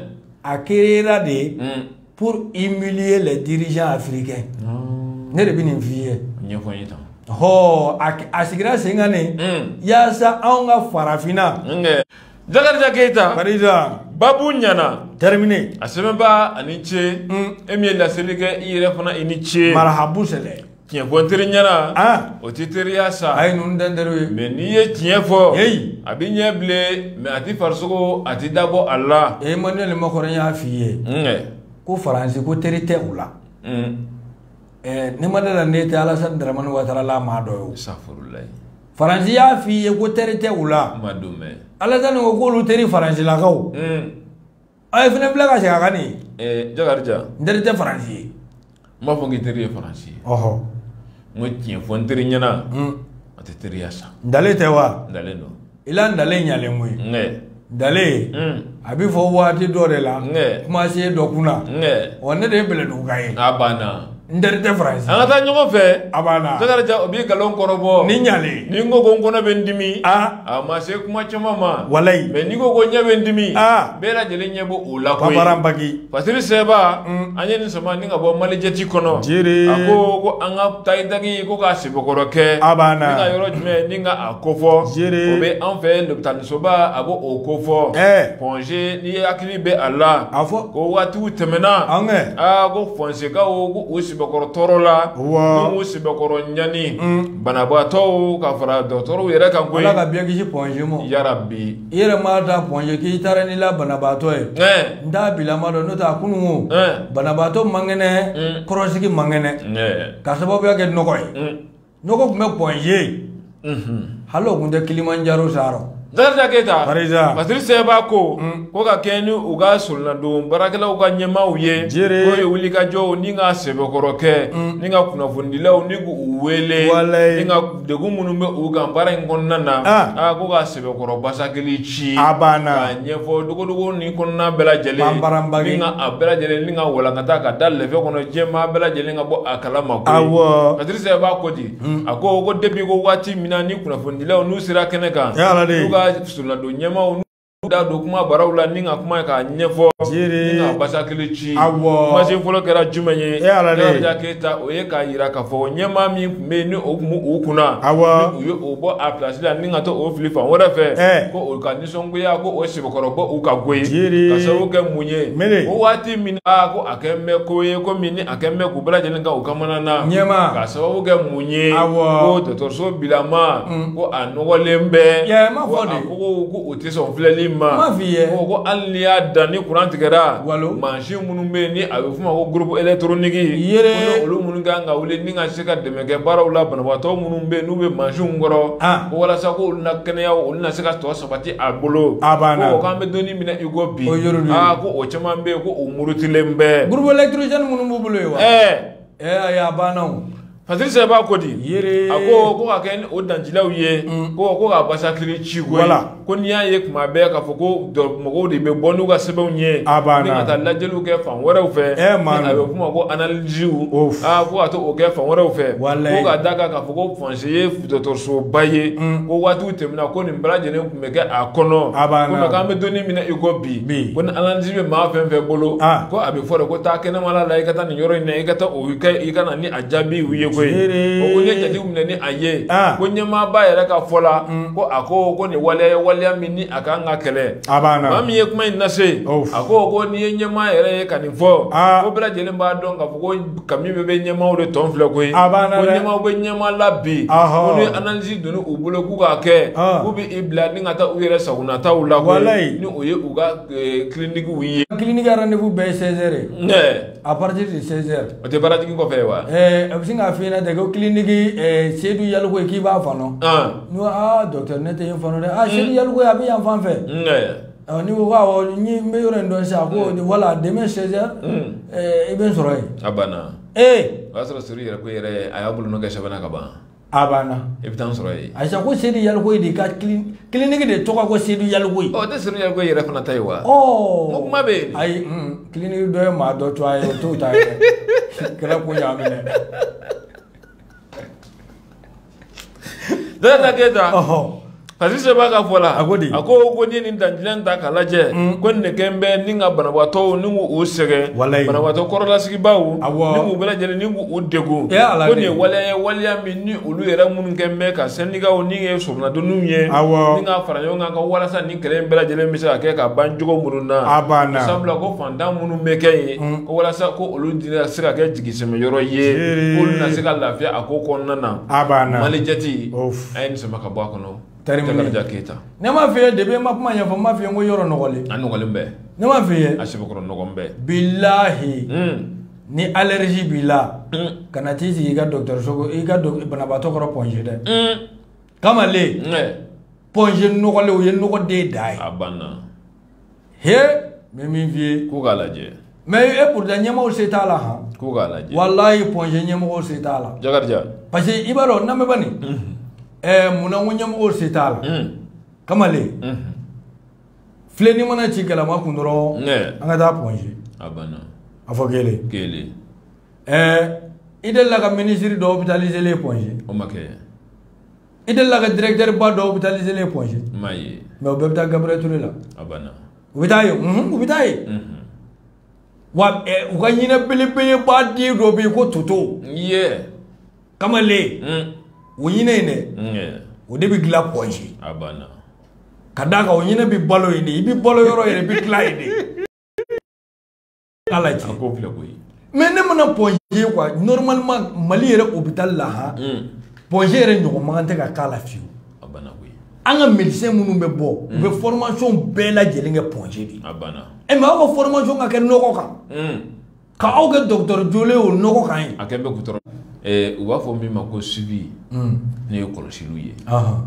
a créera de ye mm. pour humilier les dirigeants africains oh. ne de bɛ nin f'i ye ɲɛfɔ n ye tan hɔ a sigira sen kan ne yaasa anw ka farafinna Jakarija Keyita Farida babu ɲana terminé a sɛbɛnbaa a ni ce e min ye laseli kɛ i yɛrɛ fana i ni ce marahabu sɛlɛ tiɲɛ fɔ teri ɲɛna ah. o tɛ teriya sa a ye ninnu dɛn teriw ye mais n'i ye tiɲɛ fɔ a bɛ ɲɛ bilen mais a tɛ farisogo a tɛ dabɔ a la Emmanuel Macron y'a f'i ye ko faransi ko teri tɛ u la n'i ma da a la ne tɛ alasani daramani watara la maa dɔ ye faransi y'a f'i ye ko teri tɛ u la alasani ko k'olu teri faransilakaw Ɔ e fana bila ka segin a kan nin. Ɛɛ Jakarija. N teri tɛ Faransi ye. N m'a fɔ n k'i teri ye Faransi ye. Ɔhɔ. N ko tiɲɛ fɔ n teri ɲɛna. Un. A tɛ teriya sa. Ntalen tɛ wa? Ntalen don. I la ntalen ɲalen koyi. N kɛ. Ntalen. Un. A bɛ fɔ waati dɔ de la. N kɛ. Kumasen dɔ kunna. N kɛ. Ɔ ne de ye bɛlɛduguka ye. A banna. N teri tɛ Faransi an ka taa ɲɔgɔn fɛ a banna Jakarija o b'i nkalon kɔrɔbɔ ni ɲalen ni n ko ko n kɔnɔ bɛ n dimi aa a ma se kuma caman ma walayi mais n'i ko ko ɲɛ bɛ n dimi aa bɛɛ lajɛlen ɲɛ b'o o la koyi paparan baki Fasiri Sɛba an ye nin sama ni ka bɔ Malijɛti kɔnɔ jeere a ko ko an ka tayidaki ko k'a sɛbɛkɔrɔ kɛ a banna ni ka yɔrɔ jumɛn ni ka a kofɔ jeere o bɛ an fɛ lopitalisoba a b'o o kofɔ ɛɛ Point G n'i hakili bɛ a la a fɔ ko waati tɛmɛna aa ko Point G kaw u sɛbɛkɔrɔ tɔɔrɔla u sɛbɛkɔrɔ ɲani banabaatɔ ka fara dɔgɔtɔrɔw yɛrɛ kan koyi Ala ka bɛɛ kisi Point G ma yarabi i yɛrɛ ma da Point G k'i taara n'i la banabaatɔ ye n t'a bilama dɔn n'o tɛ a kunun banabaatɔ man kɛnɛ kɔrɔsigi man kɛnɛ ka sababuya kɛ nɔgɔ ye nɔgɔ tun bɛ Point G hali o tun tɛ Kilimanjaro saarɔ Jakarija Keyita, Barisa. Fasiri Sɛba ko ko ka kɛ ni u ka solonadon baarakɛlaw ka ɲɛmaaw ye Jere. k'o ye wulikajɔw ni ka sɛbɛkɔrɔ kɛ ni ka kunnafonidilaw ni k'u wele Walayi. ni ka degun minnu bɛ u kan baara in kɔnɔna na Ah. aa ko ka Sɛbɛkɔrɔ basakili ci a banna k'a ɲɛfɔ dogodogo ni kɔnɔna bɛɛ lajɛlen a bɛɛ lajɛlen ka walankata ka da lɛfɛ kɔnɔ diɲɛmaa bɛɛ lajɛlen ka bɔ a kalama Fasiri Sɛba ko di a ko ko depuis ko waati min na ni kunnafonidilaw n'u sera kɛnɛ kan solonadon ɲɛmaaw da don kumabaraw la ni ka kuma k'a ɲɛfɔ ni ka basakili ci kumasen fɔlɔ kɛra jumɛn ye Jakarija Keyita o ye k'a jira k'a fɔ ɲɛmaa min bɛ yen ni o tun bɛ u kunna, awɔ, u ye o bɔ a place la ni ka to o fili fan wɛrɛ fɛ, ɛɛ, ko o ka nisɔngoya ko o sɛbɛkɔrɔ bɛ u kan koyi, jeere, ka sababu kɛ mun ye, mele, ko waati min na ko a kɛlen bɛ ko ye komi ni a kɛlen bɛ k'u bɛɛ lajɛlen kɛ u kamana na, ɲɛma, ka sababu kɛ mun ye, awɔ, ko dɔgɔtɔrɔso bilama, un, ko a nɔgɔlen bɛ, ɛɛ, n b'a fɔ de, ko a ko k'u tɛ sɔn filɛli ma, n b'a f'i ye, ko ko hali n'i y'a dan ni kuran tigɛra, walo, mansin minnu bɛ yen ni a bɛ f'o ma ko groupe électronique, yeere, ko n'olu minnu ka kan ka wuli ka se ka dɛmɛ kɛ baaraw la banabaatɔ minnu bɛ n'u bɛ mansinw kɔrɔ ko walasa ko olu na kɛnɛya olu na se ka tɔ sabati a bolo a banna ko k'an bɛ don min na i ko bi aa ko o caman bɛ yen ko o murutilen bɛ groupe électrogène minnu b'u bolo yen wa ɛɛ ɛɛ a banna o Fasiri Sɛba ko di a ko ko ka kɛ ni o dancilaw ye ko ko ka basakili ci koyi ko n'i y'a ye kuma bɛ k'a fɔ ko mɔgɔw de bɛ bɔ n'u ka sɛbɛnw ye a banna ni ka taa lajɛliw kɛ fan wɛrɛw fɛ ɛ eh, maa a bɛ kuma ko analysiw aa ko ka taa o kɛ fan wɛrɛw fɛ ko ka d'a kan k'a fɔ ko pɔnze ye dɔgɔtɔrɔsoba ye mm. ko waatiw tɛmɛna ko nin bɛɛ lajɛlen tun bɛ kɛ a kɔnɔ a banna ko k'an bɛ don min na i ko bi ko ni analysi bɛ maa fɛn fɛn bolo ah. ko a bɛ fɔ de ko taa kɛnɛmala la i ka taa nin yɔrɔ in na i ka taa o kɛ i ka na ni a jaabiw ye koyi o ko ne jate minɛ ni a ye ah. ko ɲɛmaaba yɛrɛ ka fɔ la mm. ko a ko ko nin waleya ye waleya min ni a kan ka kɛlɛ maa min ye kuma in lase a ko ko n'i ye ɲɛmaa yɛrɛ ye ka nin fɔ ah. ko bɛɛ lajɛlen b'a dɔn k'a fɔ ko kami bɛɛ bɛ ɲɛmaaw de tɔn filɛ koyi ko ɲɛmaaw bɛ ɲɛmaa la bi ko ni analyse donna u bolo k'u k'a kɛ ah. k'u bɛ i bila ni ka taa u yɛrɛ sagonataw la koyi ni o ye u ka kilinikiw eh, ye kiliniki rendez-vous bɛɛ ye 16 heures ye A partir de 16 heures o tɛ baara jigi kɔfɛ ye wa? Ɛɛ a bɛ sin k'a f'i ɲɛna ten ko clinique ɛɛ Seyidu Yalikuye k'i b'a fan dɔn, an, ne ko aa docteur ne tɛ yen fan dɔn dɛ, aa Seyidu Yalikuye a bɛ yan fan fɛ, un, ɔ n'i ko awɔ n ye n bɛ yɔrɔ in dɔn sisan a ko wala demain 16 heures ɛɛ i bɛ n sɔrɔ yen, a banna, ee, o y'a sɔrɔ Seyidu Yalikuye yɛrɛ a y'a bolonɔ kɛ sɛbɛn na ka ban a banna i bɛ taa n sɔrɔ yen ayi sa ko sedu yalikuye de ka kiliniki de tɔgɔ ko sedu yalikuye o tɛ sedu yalikuye yɛrɛ fana ta ye wa ɔ ko kuma bɛ yen ayi kiliniki dɔ ye maa dɔ tɔgɔ ye o t'o ta ye kɛra ko y'a minɛ dɔ ta k'e ta Fasiri Seba ka fɔ la a ko di a ko ko ni ni dan ta k'a lajɛ ko nin kɛlen bɛ ni ka banabagatɔw ni k'u sɛgɛn banabagatɔ kɔrɔlasigibaw ni k'u bɛɛ lajɛlen ni k'u degun ko nin waleya ye waleya min ni olu yɛrɛ minnu kɛlen bɛ ka sendikaw ni ye sodonw ye ni ka fara ɲɔgɔn kan ka walasa ni kɛlɛ bɛɛ lajɛlen bɛ se ka kɛ ka ban cogo minnu na a banna sabula ko fantan minnu bɛ kɛ ye ko walasa ko olu di na se ka kɛ jigisɛmɛ yɔrɔ ye k'olu na se ka lafiya a ko kɔnɔna na a banna malijɛti a ye nin sama ka bɔ a kɔnɔ Jakarija Keyita ne m'a f'i ye depuis n ma kuma ɲɛfɔ n m'a f'i ye ko yɔrɔ nɔgɔlen a nɔgɔlen bɛ ne m'a f'i ye a sɛbɛkɔrɔ nɔgɔlen bɛ bilahi ni allergie b'i la kana t'i sigi i ka dɔgɔtɔrɔso i ka banabaatɔ kɔrɔ pɔnze dɛ kamalen pɔnze nɔgɔlen o ye nɔgɔ de dan ye a banna he n bɛ min f'i ye ko k'a lajɛ mais et pourtant ɲɛmɔgɔw se t'a la han ko k'a lajɛ walayi pɔnze ɲɛmɔgɔw se t'a la jakarija parce que i b'a dɔn n lamɛn bani ɛɛ mun na n ko ɲɛmɔgɔw se t'a la kamalen filenni mana ci galama kun dɔrɔn an ka taa pɔnze a banna a fɔ kelen kelen ɛɛ i delila ka minisiri dɔ opitalizelen pɔnze o ma kɛ i delila ka directeur ba dɔ hospitaliser len Point G ma ye mais u bɛɛ bɛ taa Gabriel Touré la a banna u bɛ taa yen u bɛ taa yen wa u ka ɲinɛ belebeleba den dɔ bɛ yen ko toto ye kamalen o ɲinɛ in dɛ o de bɛ dilan Point G a banna ka d'a kan o ɲinɛ bɛ balo yen de i bɛ balo yɔrɔ yɛrɛ i bɛ tila yen de ala cɛ ko filɛ koyi mais ne mana Point G quoi normalement mali yɛrɛ hôpital la han hmm. Point G yɛrɛ ɲɔgɔn man kan tɛ ka k'a la fiyewu an ka médecin minnu bɛ bɔ u bɛ hmm. formation bɛɛ lajɛlen kɛ Point G de ɛ mais aw ka formation ka kɛ nɔgɔ kan hmm. ka aw kɛ docteur jɔlen o nɔgɔ kan ye u b'a fɔ min ma ko suivi ne ye kɔlɔsiliw ye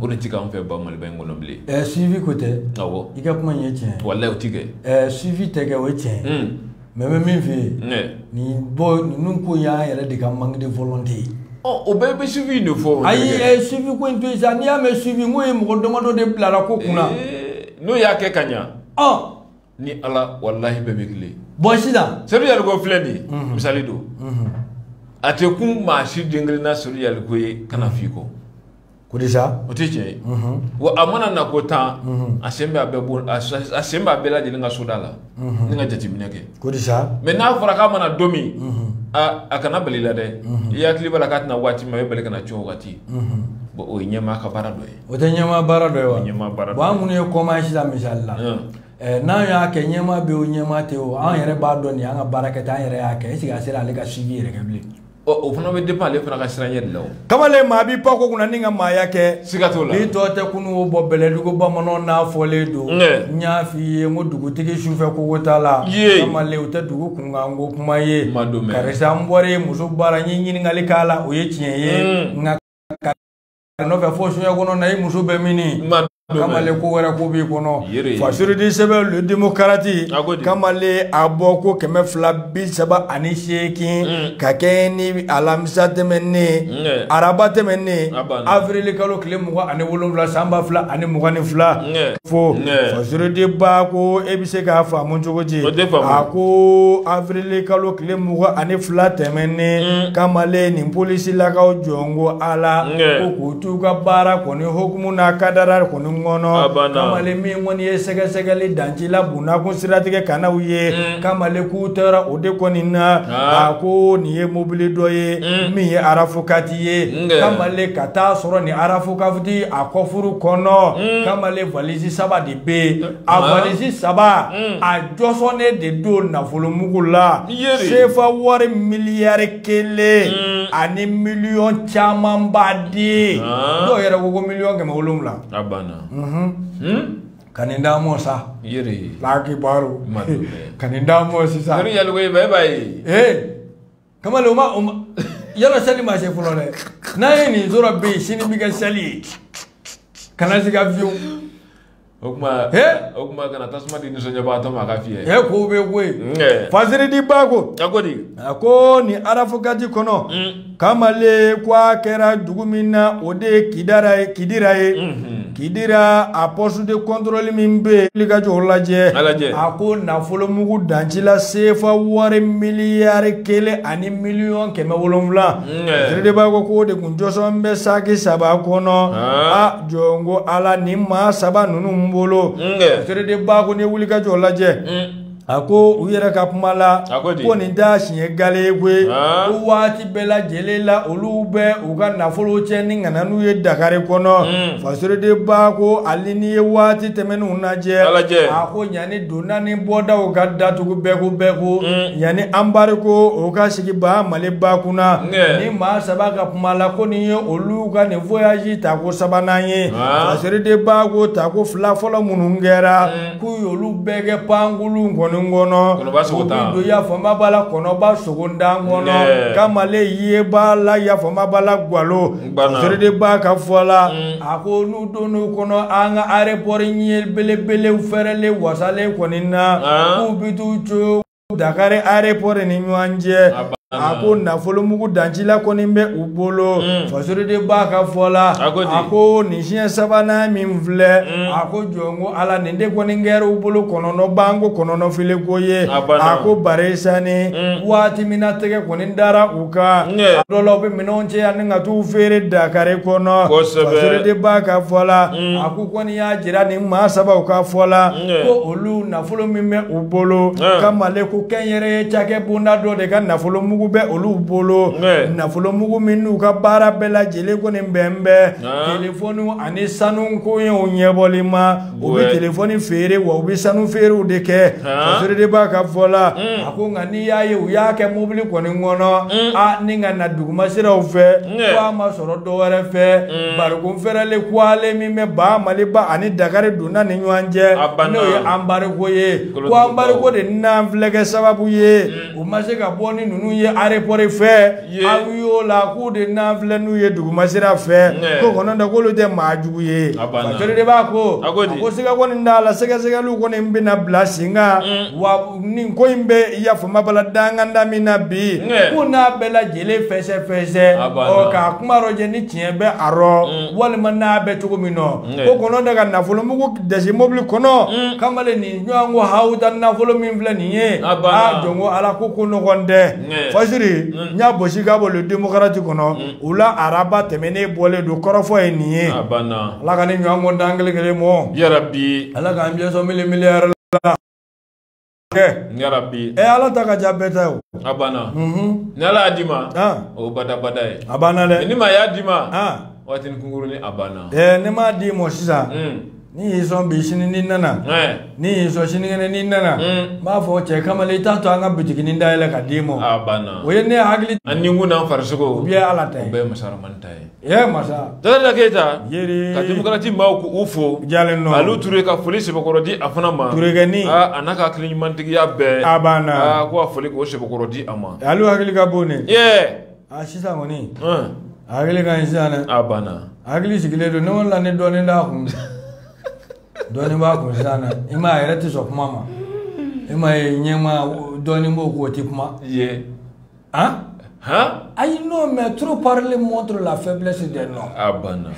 o de tɛ k'an fɛ ba maliba in kɔnɔ bilen suivi ko tɛ i ka kuma ye tiɲɛ walahi o tɛ kɛ suivi tɛ kɛ o ye tiɲɛ mais bɛ min fɛ yen nin bɔ ninnu ko y'an yɛrɛ de ka manque de volonté ye o bɛɛ bɛ suivi in de fɔ ayi suivi ko in to yen sa n'i y'a mɛn suivi n ko ye mɔgɔ damadɔ de bilara ko kunna n'o y'a kɛ ka ɲa ni ala walahi bɛɛ bɛ tilen bon sisan Seydou Diallo ko filɛ nin ye mhm. misali don mhm. a tɛ kun maa si den kelen na Seydou Diallo ko ye kana mhm. f'i kɔ ko di sa o tɛ tiɲɛ ye wa a mana na ko tan a sen bɛ a bɛɛ bon a sen bɛ a bɛɛ lajɛlen ka soda la ni ka jateminɛ kɛ ko di sa mais n'a fɔra k'a mana don min a kana bali la dɛ i hakili b'a la k'a tɛna waati min a bɛ bali ka na cun o waati bon o ye ɲɛmaa ka baara dɔ ye o tɛ ɲɛmaa baara dɔ ye wa ɲɛmaa baara bon an minnu ye kɔmaa ye sisan misali la n'an y'a kɛ ɲɛmaa bɛ o ɲɛmaa tɛ o an yɛrɛ b'a dɔn ni an ka baara kɛ an yɛrɛ y'a kɛ est ce que a sera ale ka suivi yɛrɛ kɛ bilen o fana bɛ dépend ale fana ka siranɲɛ de la o kamalen maa b'i pan ko kunna n'i ka maaya kɛ siga t'o la n'i tɔ tɛ kunun o bɔ bɛlɛdugu bamananw n'a fɔlen don n y'a f'i ye n ko dugutigi sufɛ kogo t'a la kamalen o tɛ dugu kunkan ko kuma ye karisa n bɔra i muso bara n ye ɲininkali k'a la o ye tiɲɛ ye nka a nɔfɛ fo soɲɛ kɔnɔ na i muso bɛ min kamale ko wɛrɛ ko b'i kɔnɔ fasurudi sɛbɛn Le Démocrate kamale a bɔko kɛmɛ fila bi saba ani seegin mm. ka kɛɲɛ ni alamisa tɛmɛnnen araba tɛmɛnnen avrili kalo tile mugan ani wolonwula san ba fila ani mugan ni fila fo fasurudi ba ko e bɛ se k'a faamu cogo di a ko avrili kalo tile mugan ani fila tɛmɛnen mm. kamalen nin polisi lakaw jɔn ko ala ko k'u t'u ka baara kɔni hukumu n'a kadara kɔni kɔnɔ kamalen min kɔni ye sɛgɛsɛgɛli dancila bonnakun siratigɛ ka n'aw ye mm. kamalen k'u taara o de kɔni na a ko nin ye mobili dɔ ye mm. min ye RAV quatre ye kamalen ka taa sɔrɔ ni arafokati a kɔfuru kɔnɔ mm. kamalen valisi saba de bɛ yen mm. a valisi saba mm. a jɔsɔnnen de don nafolomugu la sefa wari miliyari kelen ani miliyɔn camanba di ah. dɔw yɛrɛ ko ko miliyɔn kɛmɛ wolonwula mhm. hmm? ka nin d'an mɔ sa laaki baro ka nin d'an mɔ sisan. kamalen o ma o ma yala sali ma se fɔlɔ dɛ n'a ye nin tora bɛ yen sini bɛ kɛ sali ye kana sigi avion o kuma o kuma kana tasuma di nisɔndiyabagatɔ ma a ka fiyɛ ɛ ko bɛ ko ye fasoriden ba ko a ko di a ko nin arafokati kɔnɔ kamalen ko a kɛra dugu min na o de ye kidira ye kidira ye Kidira a poste de controle min bɛ yen, wulikajɔw lajɛ, a lajɛ, a ko nafolo mugu danci la CFA wari miliyari kelen ani miliyɔn kɛmɛ wolonwula, Fasoriden ba ko k'o de tun jɔsɔnnen bɛ saki saba kɔnɔ, aa jɔn ko Ala nin maa saba ninnu bolo, Fasoriden ba ko n'i ye wulikajɔw lajɛ a ko u yɛrɛ ka kuma la A ko di? ko nin t'a siɲɛ gale ye koyi Aa. ko waati bɛɛ lajɛlen la olu bɛ u ka nafolo cɛ ni ka na n'u ye dakari kɔnɔ fasoriden ba ko ali n'i ye waati tɛmɛnenw lajɛ A lajɛ. a ko yanni donda ni bɔdaw ka datugu bɛɛ ko bɛɛ ko yanni anbarigo o ka sigi ba maliba kunna Nɛ. nin maa saba ka kuma la ko nin ye olu ka nin voyage tako sabanan ye Aa. fasoriden ba ko tako fila fɔlɔ minnu kɛra k'u y'olu bɛɛ kɛ pankulu kɔni kɔnɔ do yafama b'a la kɔnɔba sogondan kɔnɔ kamale ye b'a la yafama b'a la gwalo fasoriden b'a ka fɔ la mm. a ko n'u donn'u kɔnɔ an ka arepɔri ɲɛ belebelew fɛrɛlen wasalen kɔni na ah. k'u bi t'u co Dakari aéroport ni yan cɛ a ko nafolomugu dancila kɔni bɛ u bolo mm. fasoriden b'a ka fɔ la a ko nin siɲɛ sabanan min filɛ mm. a ko jɔn ko ala nin de kɔni kɛra u bolo kɔnɔnɔban ko kɔnɔnɔfili ko ye a ko barisa ni mm. waati min na tɛgɛ kɔni dara u kan a dɔ la u bɛ minɛnw cɛ yan ni ka t'u feere dakari kɔnɔ fasoriden b'a ka fɔ la a ko kɔni y'a jira nin maa sabaw ka fɔ la ko olu nafolo min bɛ u bolo kamale ko kɛnyɛrɛye cakɛ bonda dɔ de ka nafolo mugu bɛ olu bolo nafolo mugu min n'u ka baara bɛɛ lajɛlen kɔni bɛnnen bɛ telefɔniw ani sanu koɲɛw ɲɛbɔli ma u bɛ telefɔni feere wa u bɛ sanu feerew de kɛ fasoriden b'a ka fɔ la a ko nka n'i y'a ye u y'a kɛ mobili kɔni kɔnɔ a ni ka na duguma siraw fɛ ko a ma sɔrɔ dɔ wɛrɛ fɛ anbarigo fɛrɛlen kuwalen min bɛ ba maliba ani dakari na ni ɲɔgɔn cɛ n'o ye anbariko ye ko anbariko de nan filɛ kɛ sababu ye u ma se ka bɔ ni ninnu ye arepɔri fɛ awiyɔn la k'u de nan filɛ n'u ye dugumasira fɛ ko ko n'o tɛ k'olu tɛ maa jugu ye fakɛli de b'a ko a ko siga kɔni t'a la sɛgɛsɛgɛliw kɔni bɛna bila sen kan wa nin ko in bɛ yafama bala danganda min na bi k'u n'a bɛɛ lajɛlen fɛsɛfɛsɛ ɔ k'a kuma rɔ jɛ ni tiɲɛ bɛ a rɔ walima n'a bɛ cogo min nɔ ko kɔnɔ de ka nafolo mugu dɛsɛ mobili kɔnɔ kamalen nin ɲɔgɔn ko hawuda nafolo min filɛ nin ye a jɔn ko ala ko ko nɔgɔn tɛ fasiri n y'a bosi ka bɔ le demokarati kɔnɔ u la araba tɛmɛnen bɔlen don kɔrɔfɔ ye nin ye ala ka ni ɲɔgɔn ko da an kelen kelen mɔ yarabi ala k'an bɛɛ sɔn mili miliyari la kɛ yarabi ɛ ala ta ka ca bɛɛ ta ye o a banna ni ala y'a d'i ma o badabada ye a banna dɛ ni maa y'a d'i ma waatini kunkurunin a banna ɛ ne m'a d'i ma sisan ni y'i sɔn bi sini n'i nana ni y'i sɔn sinikɛnɛ n'i nana n b'a fɔ cɛ kamalen i t'a to an ka bitiginin dayɛlɛ ka d'i ma o ye ne hakili ani kun n'an farisogo u bɛɛ ala ta ye u bɛɛ ye masa ramani ta ye Ee masa Jakarija Keyita yeri ka demokarati maaw ko u fo u diyalen don Alu Ture ka foli sɛbɛkɔrɔ di a fana ma Turekɛnin aa a n'a ka hakiliɲumantigiya bɛɛ a banna aa ko a foli k'o sɛbɛkɔrɔ di a ma Alu hakili ka bon dɛ ee a sisan kɔni a hakili ka ɲi sisan dɛ a banna a hakili sigilen don ne kɔni la ni dɔɔnin d'a kun dɔɔnin b'a kun sisan dɛ i ma a yɛrɛ tɛ sɔn kuma ma i ma ye ɲɛma dɔɔnin b'o k'o tɛ kuma ye ayi non mais trop parler montre la faiblesse de l'homme a banna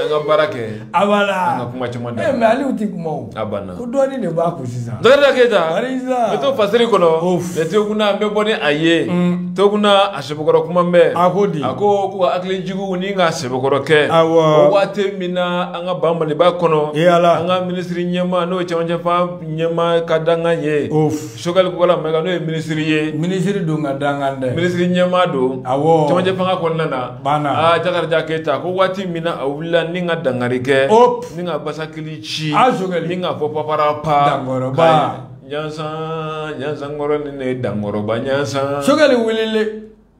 an ka baara kɛ a banna an ka kuma caman da mais ale tɛ kuma o a banna ko dɔɔni de b'a kun sisan jakarija keyita n bɛ to fasiri kɔnɔ mɛ tokuna n bɛ bɔ ni a ye mm. tokuna a sɛbɛkɔrɔ kuma bɛ a ko di a ko ko ka hakilijigin ni ka sɛbɛkɔrɔ kɛ awɔ o waati min na an ka ba maliba kɔnɔ an ka minisiri ɲɛmaa n'o ye cɛmancɛ fan ɲɛmaa ka dankan ye Sogɛli Kokala Mayiga n'o ye minisiri ye, minisiri don ka dankan dɛ, minisiri ɲɛmaa don, awɔ, cɛmancɛ fanga kɔnɔna na, banna, aa Jakarija Keyita ko waati min na a wulila ni ka dangari kɛ, hop, ni ka basakili ci, a Sogɛli, ni ka fɔ paparapa, dankɔrɔba, Ɲansan, Ɲansankɔrɔ ni ne dankɔrɔba Ɲansan, Sogɛli wulili,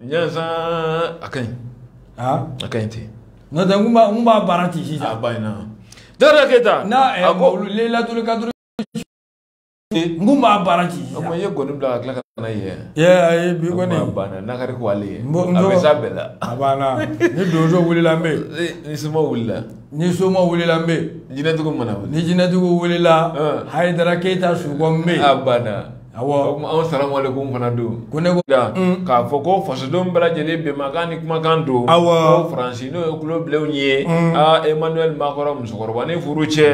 Ɲansan, a ka ɲi, a ka ɲi ten, n'o tɛ n tun b'a baara ten sisan, a banna, Jakarija Keyita, na, a ko, Leyilatulikaduru n kun b'a baara k'i jija i ye gɔni bila ka tila ka na ye yɛ ayi bi kɔni a banna nakari ko ale ye a bɛ s'a bɛɛ la a banna ni donso wulila n bɛ ni soma wulila ni soma wulila n bɛ jinɛtigiw mana wuli ni jinɛtigiw wulila hayidara keyita sukɔ n bɛ a banna awɔ anw salamalekum fana don ko ne ko da k'a fɔ ko fasodenw bɛɛ lajɛlen bɛnmakan ni kumakan don awɔ ko faransi n'o ye kulobilenw ye aa emmanuel macron musokɔrɔba ni furu cɛ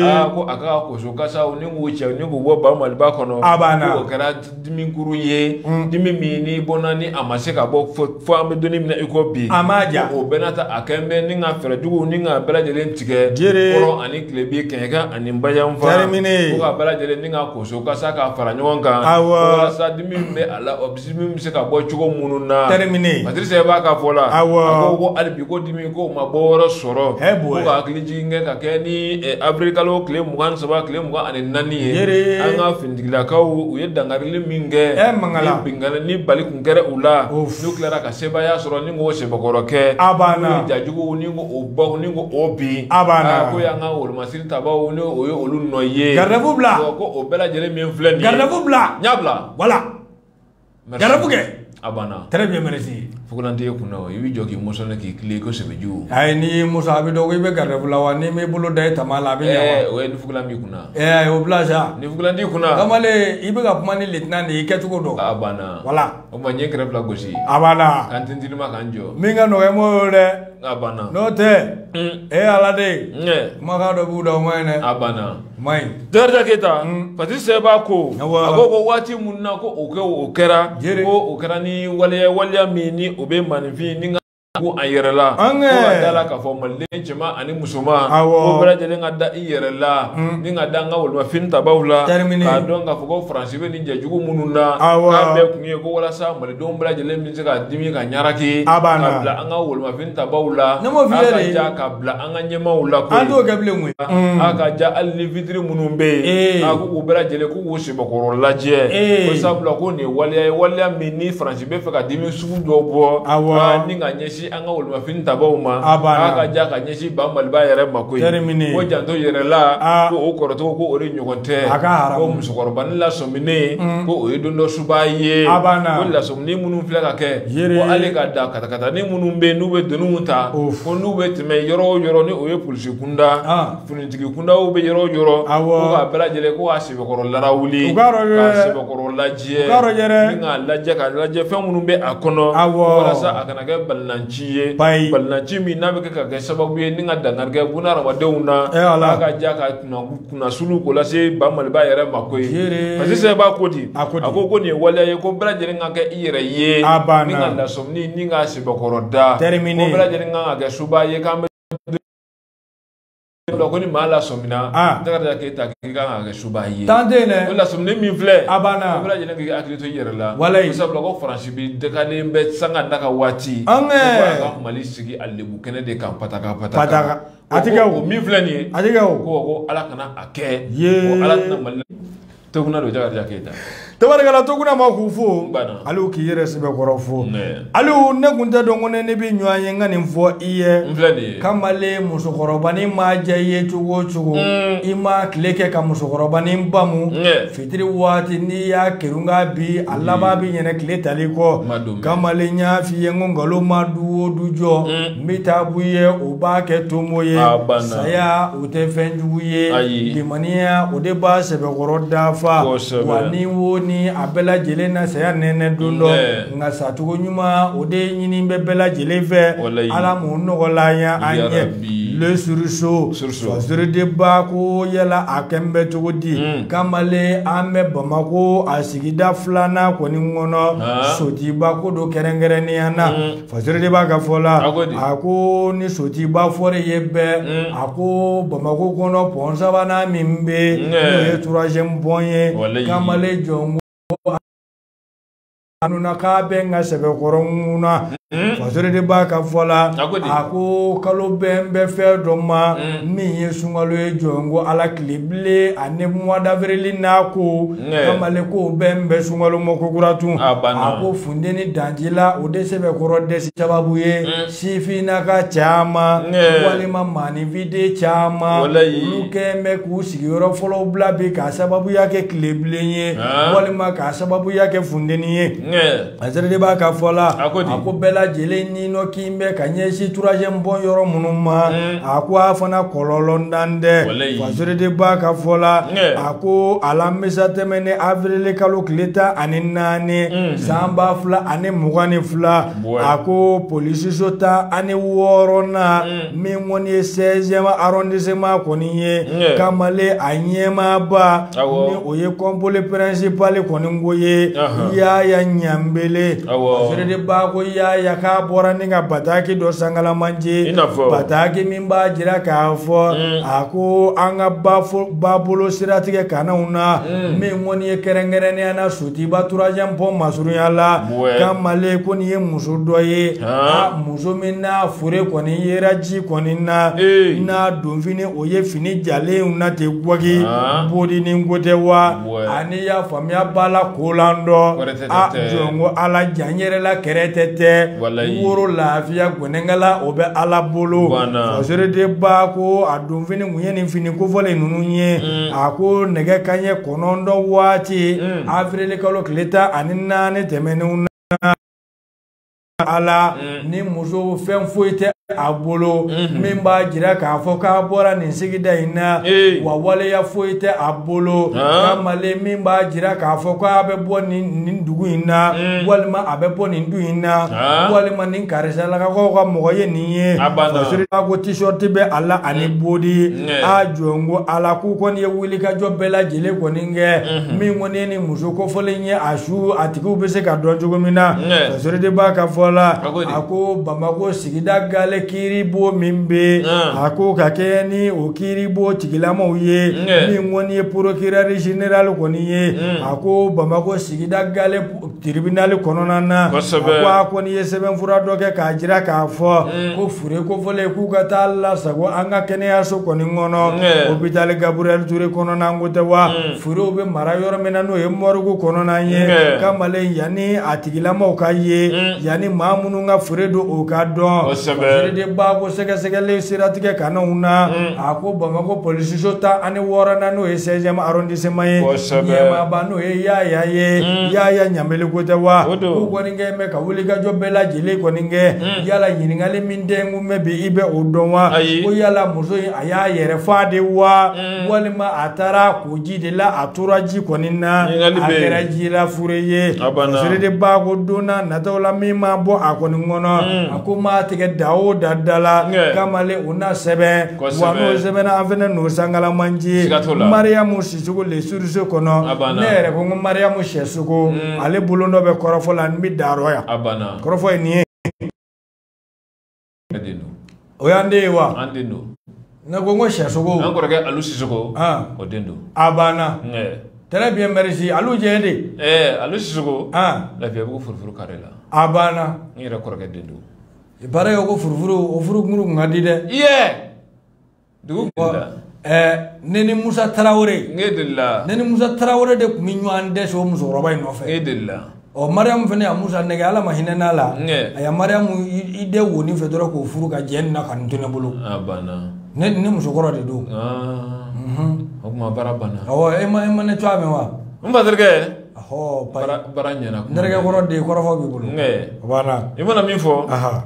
aa ko a ka koso kasa ni k'u cɛ ni k'u bɔ ba maliba kɔnɔ a banna o kɛra dimikuru ye mm. dimi min ni bɔnna ni a ma se ka bɔ fo an bɛ don min na i ko bi a ma ja o bɛɛ n'a ta a kɛlen bɛ ni ka fɛɛrɛjugu ni ka bɛɛ lajɛlen tigɛ jiri kɔrɔn ani tilebin kɛɲɛka ani bayanfan fo ka bɛɛ lajɛlen ni ka koso kasa ka fara ɲɔgɔn kan walasa dimi bɛ a la min bɛ se ka bɔ cogo minnu na terminé Patrice sɛba ka fɔ la awɔ a ko ko hali bi ko dimi k'o ma bɔyɔrɔ sɔrɔ ko ka hakili jigin kɛ ka kɛ ni eh, avril kalo tile mugan ni saba tile mugan ani naani ye an ka finitigilakaw u ye dankarili min kɛ eh, ni binkanni ni bali kun kɛra u la n'u tilara ka sebaaya sɔrɔ ni k'o sɛbɛkɔrɔ kɛ a banna ni jajuguw ni k'o bɔ ni k'o bin a banna ah, ko y'an ka wolomasiri tabaw ni o ye olu nɔ ye garde-à-vous bila ko o bɛɛ lajɛlen min filɛ nin ye garde-à-vous bila n y'a bila voilà Garde-à-vous kɛ a banna très bien merci Fugulan t'i kun na o i b'i jɔ k'i mɔsɔnlɛ k'i tilen i ko sebeju ayi n'i y'i mɔsɔn a bɛ dɔn ko i bɛ garde-à-vous la wa n'i m'i bolo da i tama la a bɛ ɲɛ wa ɛɛ o ye ni fugulan b'i kun na ɛɛ o bila sa ni fugulan t'i kun na kamalen i bɛ ka kuma ni lieutenant de ye i kɛcogo dɔn a banna voilà o tuma n ye kɛrɛ fila gosi a banna ka n tintinima ka n jɔ min ka nɔgɔn i m'o ye dɛ A banna n'o tɛ e ala de kumakan dɔ b'u da o ma ɲi dɛ a banna ma ɲi dɔda keyita pati sɛba ko a ko ko waati minnu na ko o kɛ o kɛra ko o kɛra ni waleya waleya min ni o bɛ maa nifin ni ko a yɛrɛla ka da la k'a fɔ maliden cɛman ani musoman ko bɛɛ lajɛlen ka da i yɛrɛla ni ka da an ka wolomafini tabaw la k'a dɔn k'a fɔ ko faransi I bɛ nin jɛjugu minnu na k'a bɛɛ kun ye ko walasa malidenw bɛɛ lajɛlen bɛ se ka dimi ka ɲaraki a b'a ka bila an ka wolomafini tabaw la ne m'o f'i ye dɛ a ka ja ka bila an ka ɲɛmaaw la koyi an t'o kɛ bilen koyi a ka ja hali ni fitiri minnu bɛ yen a ko k'u bɛɛ lajɛlen k'u k'u sɛbɛkɔrɔ lajɛ ko sabula ko nin ye waleya ye waleya min ni Faransi bɛ fɛ ka dimi sugu dɔ bɔ ni ka ɲɛsin an ka wolomafini tabaw ma a ka ja ka ɲɛsin ba maliba yɛrɛ ma koyi ko janto yɛrɛla ko o kɔrɔtɔgɔ ko o de ɲɔgɔn tɛ ko musokɔrɔba ni lasɔmini mm. ko o ye don dɔ suba ye ko lasɔmini minnu filɛ ka kɛ ko ale ka da katakatanin minnu bɛ n'u bɛ doniw ta ko n'u bɛ tɛmɛ yɔrɔ o yɔrɔ ni o ye polisi kunda finitigi kundaw bɛ yɔrɔ o yɔrɔ ko k'a bɛɛ lajɛlen ko Sɛbɛkɔrɔ larawuli k'a sɛbɛkɔrɔ lajɛ ka lajɛ ka lajɛ fɛn minnu bɛ a kɔnɔ walasa a kana kɛ balinanci ye balinanci min n'a bɛ kɛ ka kɛ sababu ye ni ka dankari kɛ bunahadamadenw na a ka ja ka kunnasuli ko lase ba maliba yɛrɛ ma koyi Patrice b'a ko di a ko ko nin ye waleya ye ko bɛɛ lajɛlen ka kɛ i yɛrɛ ye ni ka lasɔmini ni ka sɛbɛkɔrɔ da ko bɛɛ lajɛlen ka kɛ suba ye k'an bɛ la ko ni maa lasɔmina ah. jakarija keyita k'i kan ka kɛ suba ye tan tɛ yen dɛ o lasɔminen min filɛ a banna a bɛɛ lajɛlen k'i hakili to i yɛrɛ la walayi sabula ko faransi bi dagalen bɛ sanga ni ka waati an kɛ ka mali sigi a lebu kɛnɛ de kan pataka pataka a ti kɛ o min filɛ nin ye a ti kɛ o ko ko ala kana a kɛ ye ko ala tɛna mali tokuna don jakarija keyita tabarikala tokuna ma k'u fo aliw k'i yɛrɛ sɛbɛkɔrɔ fo aliw ne kun tɛ dɔn ko ne n'e bɛ ɲɔgɔn ye n ka nin fɔ i ye kamalen musokɔrɔbanin ma diya i ye cogo o cogo mm. i ma tile kɛ ka musokɔrɔbanin bamu fitiri waati n'i y'a kerun ka bin a mm. laban bɛ ɲinɛ tile tali kɔ kamalen y'a f'i ye ko nkalon ma du o du jɔ mm. n bɛ taa b'i ye o b'a kɛ tomo ye saya o tɛ fɛn jugu ye Ayi. limaniya o de b'a sɛbɛkɔrɔ dafa Kosɛbɛ. wa ni wo ni a bɛɛ lajɛlen na saya nɛnɛ don dɔ Nɛ. nka sacogo ɲuman o de ɲini bɛ bɛɛ lajɛlen fɛ Walayi. ala m'o nɔgɔla an ye an ɲɛ Ya Rabbi. le Sursaut Sursaut. fasiri de b'a ko yala a kɛn bɛ cogo di Mm. kamalen an bɛ bamako a sigida filanan kɔni kɔnɔ Ah. sotiba ko don kɛrɛnkɛrɛnnenya na Mm. fasiri de b'a ka fɔ la a ko ni sotiba fɔrɛ ye bɛɛ mm. a ko bamako kɔnɔ pɔn sabanan min bɛ mm. n'o ye troisième pɔn ye kamalen jɔnko anuna k'a bɛ n ka sɛbɛkɔrɔ ŋuna mm. fasiri de b'a ka fɔ la a ko kalo bɛn bɛ fɛn dɔ ma min ye sunkalo ye jɔnko ala tilebilen ani mois d'avril n'a ko kamalen ko bɛn bɛ sunkalo ma kokura tun a ko funteni danji la o de sɛbɛkɔrɔ dɛsi sababu ye sifin n'a ka caman walima maaninfinden caman olu kɛn bɛ k'u sigiyɔrɔ fɔlɔ bila bi k'a sababuya kɛ tilebilen ye walima k'a sababuya kɛ funteni ye Fasiri de b'a ka fɔ la a ko di? a ko bɛɛ lajɛlen ni nɔ k'i bɛ ka ɲɛsin troisième pɔn yɔrɔ minnu ma Mm. a ko a fana kɔlɔlɔntan tɛ Walayi. Fasiri de b'a ka fɔ la Nge. a ko alamisa tɛmɛnen avril kalo tile tan ani naani Mm. san ba fila ani mugan ni fila Bɔn. a ko polisiso tan ani wɔɔrɔnan min kɔni ye sɛziyɛmu arɔndisiman kɔni ye kamalen a ɲɛmaaba ni o ye kɔnpoli pɛrɛnsipali kɔni ko ye yaaya ɲanbele seredeba ko yaaya k'a bɔra ni ka bataki dɔ sangalamanje bataki min b'a jira k'a fɔ mm. a ko an ka babolo siratigɛ kananw na mm. min kɔni ye kɛrɛnkɛrɛnnenya na sotuba turuwaziyɛmu pɔn masurunya la kamalen ko nin ye muso dɔ ye Muso min n'a fure kɔni yera ji kɔni na n'a donfini o ye fini jalen na ten gwagi bɔdi ni ko tɛ wa ani y'a faamuya b'a la kolan dɔ a jɔnko ala jan an yɛrɛ la kɛrɛ tɛ tɛ woro lafiya gɛnkala o bɛ ala bolo seredeba ko a donfini tun ye nin fini kofɔlen ninnu ye a ko nɛgɛ kanɲɛ kɔnɔntɔn waati awirili kalo tile tan ani naani tɛmɛnenw na ala mm. ni muso fɛn foyi tɛ a bolo mm-hmm. min b'a jira k'a fɔ k'a bɔra nin sigida in na wa waleya foyi tɛ a bolo kamalen min b'a jira k'a fɔ k'a bɛ bɔ nin dugu in na mm. walima a bɛ bɔ nin du in na walima nin karisalakaw ka mɔgɔ ye nin ye seredeba ko tisɔriti bɛ a la ani mm. bodi a jɔnko ala k'u kɔni ye wulikajɔ bɛɛ lajɛlen kɔni kɛ mm-hmm. min kɔni ye muso kofɔlen ye a su a tigiw bɛ se ka dɔn cogo min na seredeba ka fɔ la a ko bamakɔ sigida gale kiiribon min bɛ a ko ka kɛ ni o kiiribon tigilamaw ye min kɔni ye porokirɛri zenerali kɔni ye a ko bamakɔ sigida gale tiribinali kɔnɔna na ko a kɔni ye sɛbɛnfura dɔ kɛ k'a jira k'a fɔ ko Fure kofɔlen k'u ka taa lasago an ka kɛnɛyaso kɔni kɔnɔ opitali gabiriyɛli ture kɔnɔna ko tɛ wa furew bɛ mara yɔrɔ min na n'o ye mɔrigi kɔnɔna ye kamalen yanni a tigilamaw ka ye yanni maa minnu ka fure don o ka dɔn seredeba ko sɛgɛsɛgɛli siratigɛ kananw na a ko bamakɔ polisiso tan ani wɔɔrɔnan n'o ye sɛziyɛmu arɔndisiman ye ɲɛmaaba n'o ye yaaya ye yaaya ɲanbele ko tɛ wa kɛ mɛ ka wulikajɔ bɛɛ lajɛlen kɔni kɛ hmm. yala ɲininkali min den kun bɛ bi i bɛ o dɔn wa ko yala muso in a y'a yɛrɛ fa de wa hmm. walima a taara ko ji de la a tora ji kɔni na a kɛra ji la fure ye seredeba ko donna nataw la min ma bɔ a kɔni kɔnɔ hmm. a ko maa tigɛ da o da da la kamalen o na sɛbɛn wa n'o sɛbɛnna an fana n'o sankalamanji mariyamu sisɔkɔ le suruso kɔnɔ ne yɛrɛ ko n ko mariyamu sisɔkɔ ale bolo dɔ bɛ kɔrɔfɔ la n bɛ dayɔrɔ yan kɔrɔfɔ ye nin ye o y'an den ye wa an den don ne ko n ko sisoko an kɔrɔkɛ alu sisoko o den don a banna très bien merci alu jɛ de ɛɛ alu sisoko lafiyabugu furufuru kare la a banna n yɛrɛ kɔrɔkɛ den don baara kɛ ko furufuru o furukuru kun ka di dɛ iye dugu kɔ ne ni musa tarawele ne delila ne ni musa tarawele de tun bɛ ɲɔgɔn dɛsɛ o musokɔrɔba in nɔfɛ ne delila ɔ mariyamu fana ye musa nɛgɛ ala ma hinɛna a la a ya mariyamu i den woni fɛ dɔrɔn k'o furu ka jɛ nin na ka nin to ne bolo ne ni musokɔrɔ de don o tuma baara banna awɔ e ma e ma ne tɔgɔ mɛn wa n ba terikɛ ɔhɔ baara ɲɛna n terikɛ kɔrɔ de kɔrɔfɔ b'i bolo o banna i mana min fɔ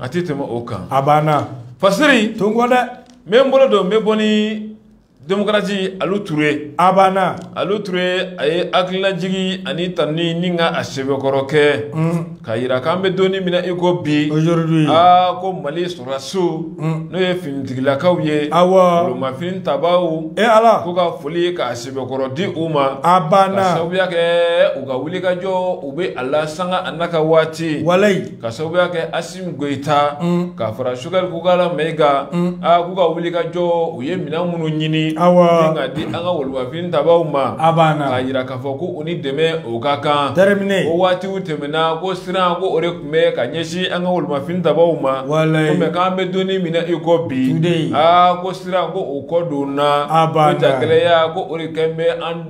a tɛ tɛmɛ o kan a banna fasiri to n kɔ dɛ n bɛ n bolo don n bɛ bɔ ni demokarasi alu ture a banna alu ture a ye hakililajigi ani tanuni ni ka a sɛbɛkɔrɔ kɛ ka yira k'an bɛ don min na i ko bi aujourd'hui aa ko mali sɔrɔdasiw n'o ye finitigilakaw ye awɔ wolomafini tabaaw e ala ko ka foli ye k'a sɛbɛkɔrɔ di u ma a banna ka sababuya kɛ u ka wulikajɔ u bɛ a la sanga a n'a ka waati walayi ka sababuya kɛ Goyita ka fara Sogɛli Kokala Mayiga kan k'u ka wuli ka jɔ u ye minɛn minnu ɲini ka di an ka wolomafini tabaaw ma a banna ka jira k'a fɔ ko u ni dɛmɛ o ka kan terminé o waati tɛmɛna ko siran ko o de tun bɛ ka ɲɛsin an ka wolomafini tabaaw ma mɛ k'an bɛ don min na i ko bi aa ko siran ko o kɔ donna jagɛlɛya ko o de kɛlen bɛ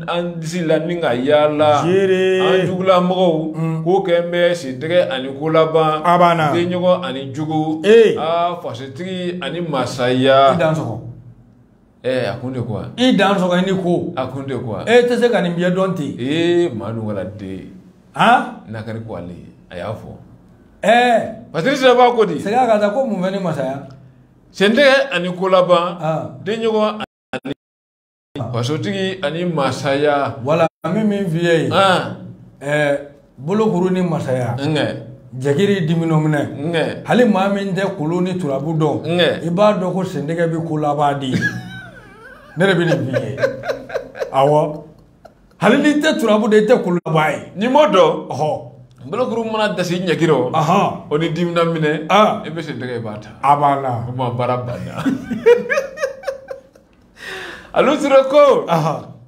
an disi la ni ka yaala an jugula mɔgɔw mm. k'o kɛlen bɛ sentɛgɛ ani kolaban denɲɔgɔn ani jugu aa fasotigi ani masaya ee a kun de ko i dan sɔgɔ ni ko a kun de ko e tɛ se ka nin bɛɛ dɔn ten ee maa dun wala den han nakari ko ale a y'a fɔ ɛɛ patiri sira b'a ko di segin k'a ta ko mun fɛn ni masaya sentɛgɛ ani kolaban denɲɔgɔn Fasotigi ani masaya wala min min fi ye bolokuru ni masaya ɲɛkili dimina minɛ hali maa min tɛ kolon ni turabu dɔn i b'a dɔn ko sentɛgɛ bɛ kolaban di ne de bɛ nin fi ye awɔ hali n'i tɛ turabu dɔn i tɛ kolon laban ye n'i m'o dɔn ɔɔ bolokuru mana dasi ɲɛkili o o ni dimina minɛ i bɛ sentɛgɛ i b'a ta a banna o ma baara banna alu sira ko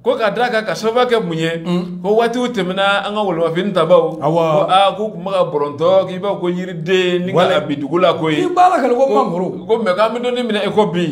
ko ka da kan ka sababu kɛ mun ye ko waatiw tɛmɛna an ka wolomafini tabaw ko aa k'u tun bɛ ka bɔrɔntɔ k'i b'a ko yiriden ni ka bin dugu la ko ye b'a la kɛlɛ ko mangoro ko mɛ k'an bɛ dɔnni minɛ e ko bi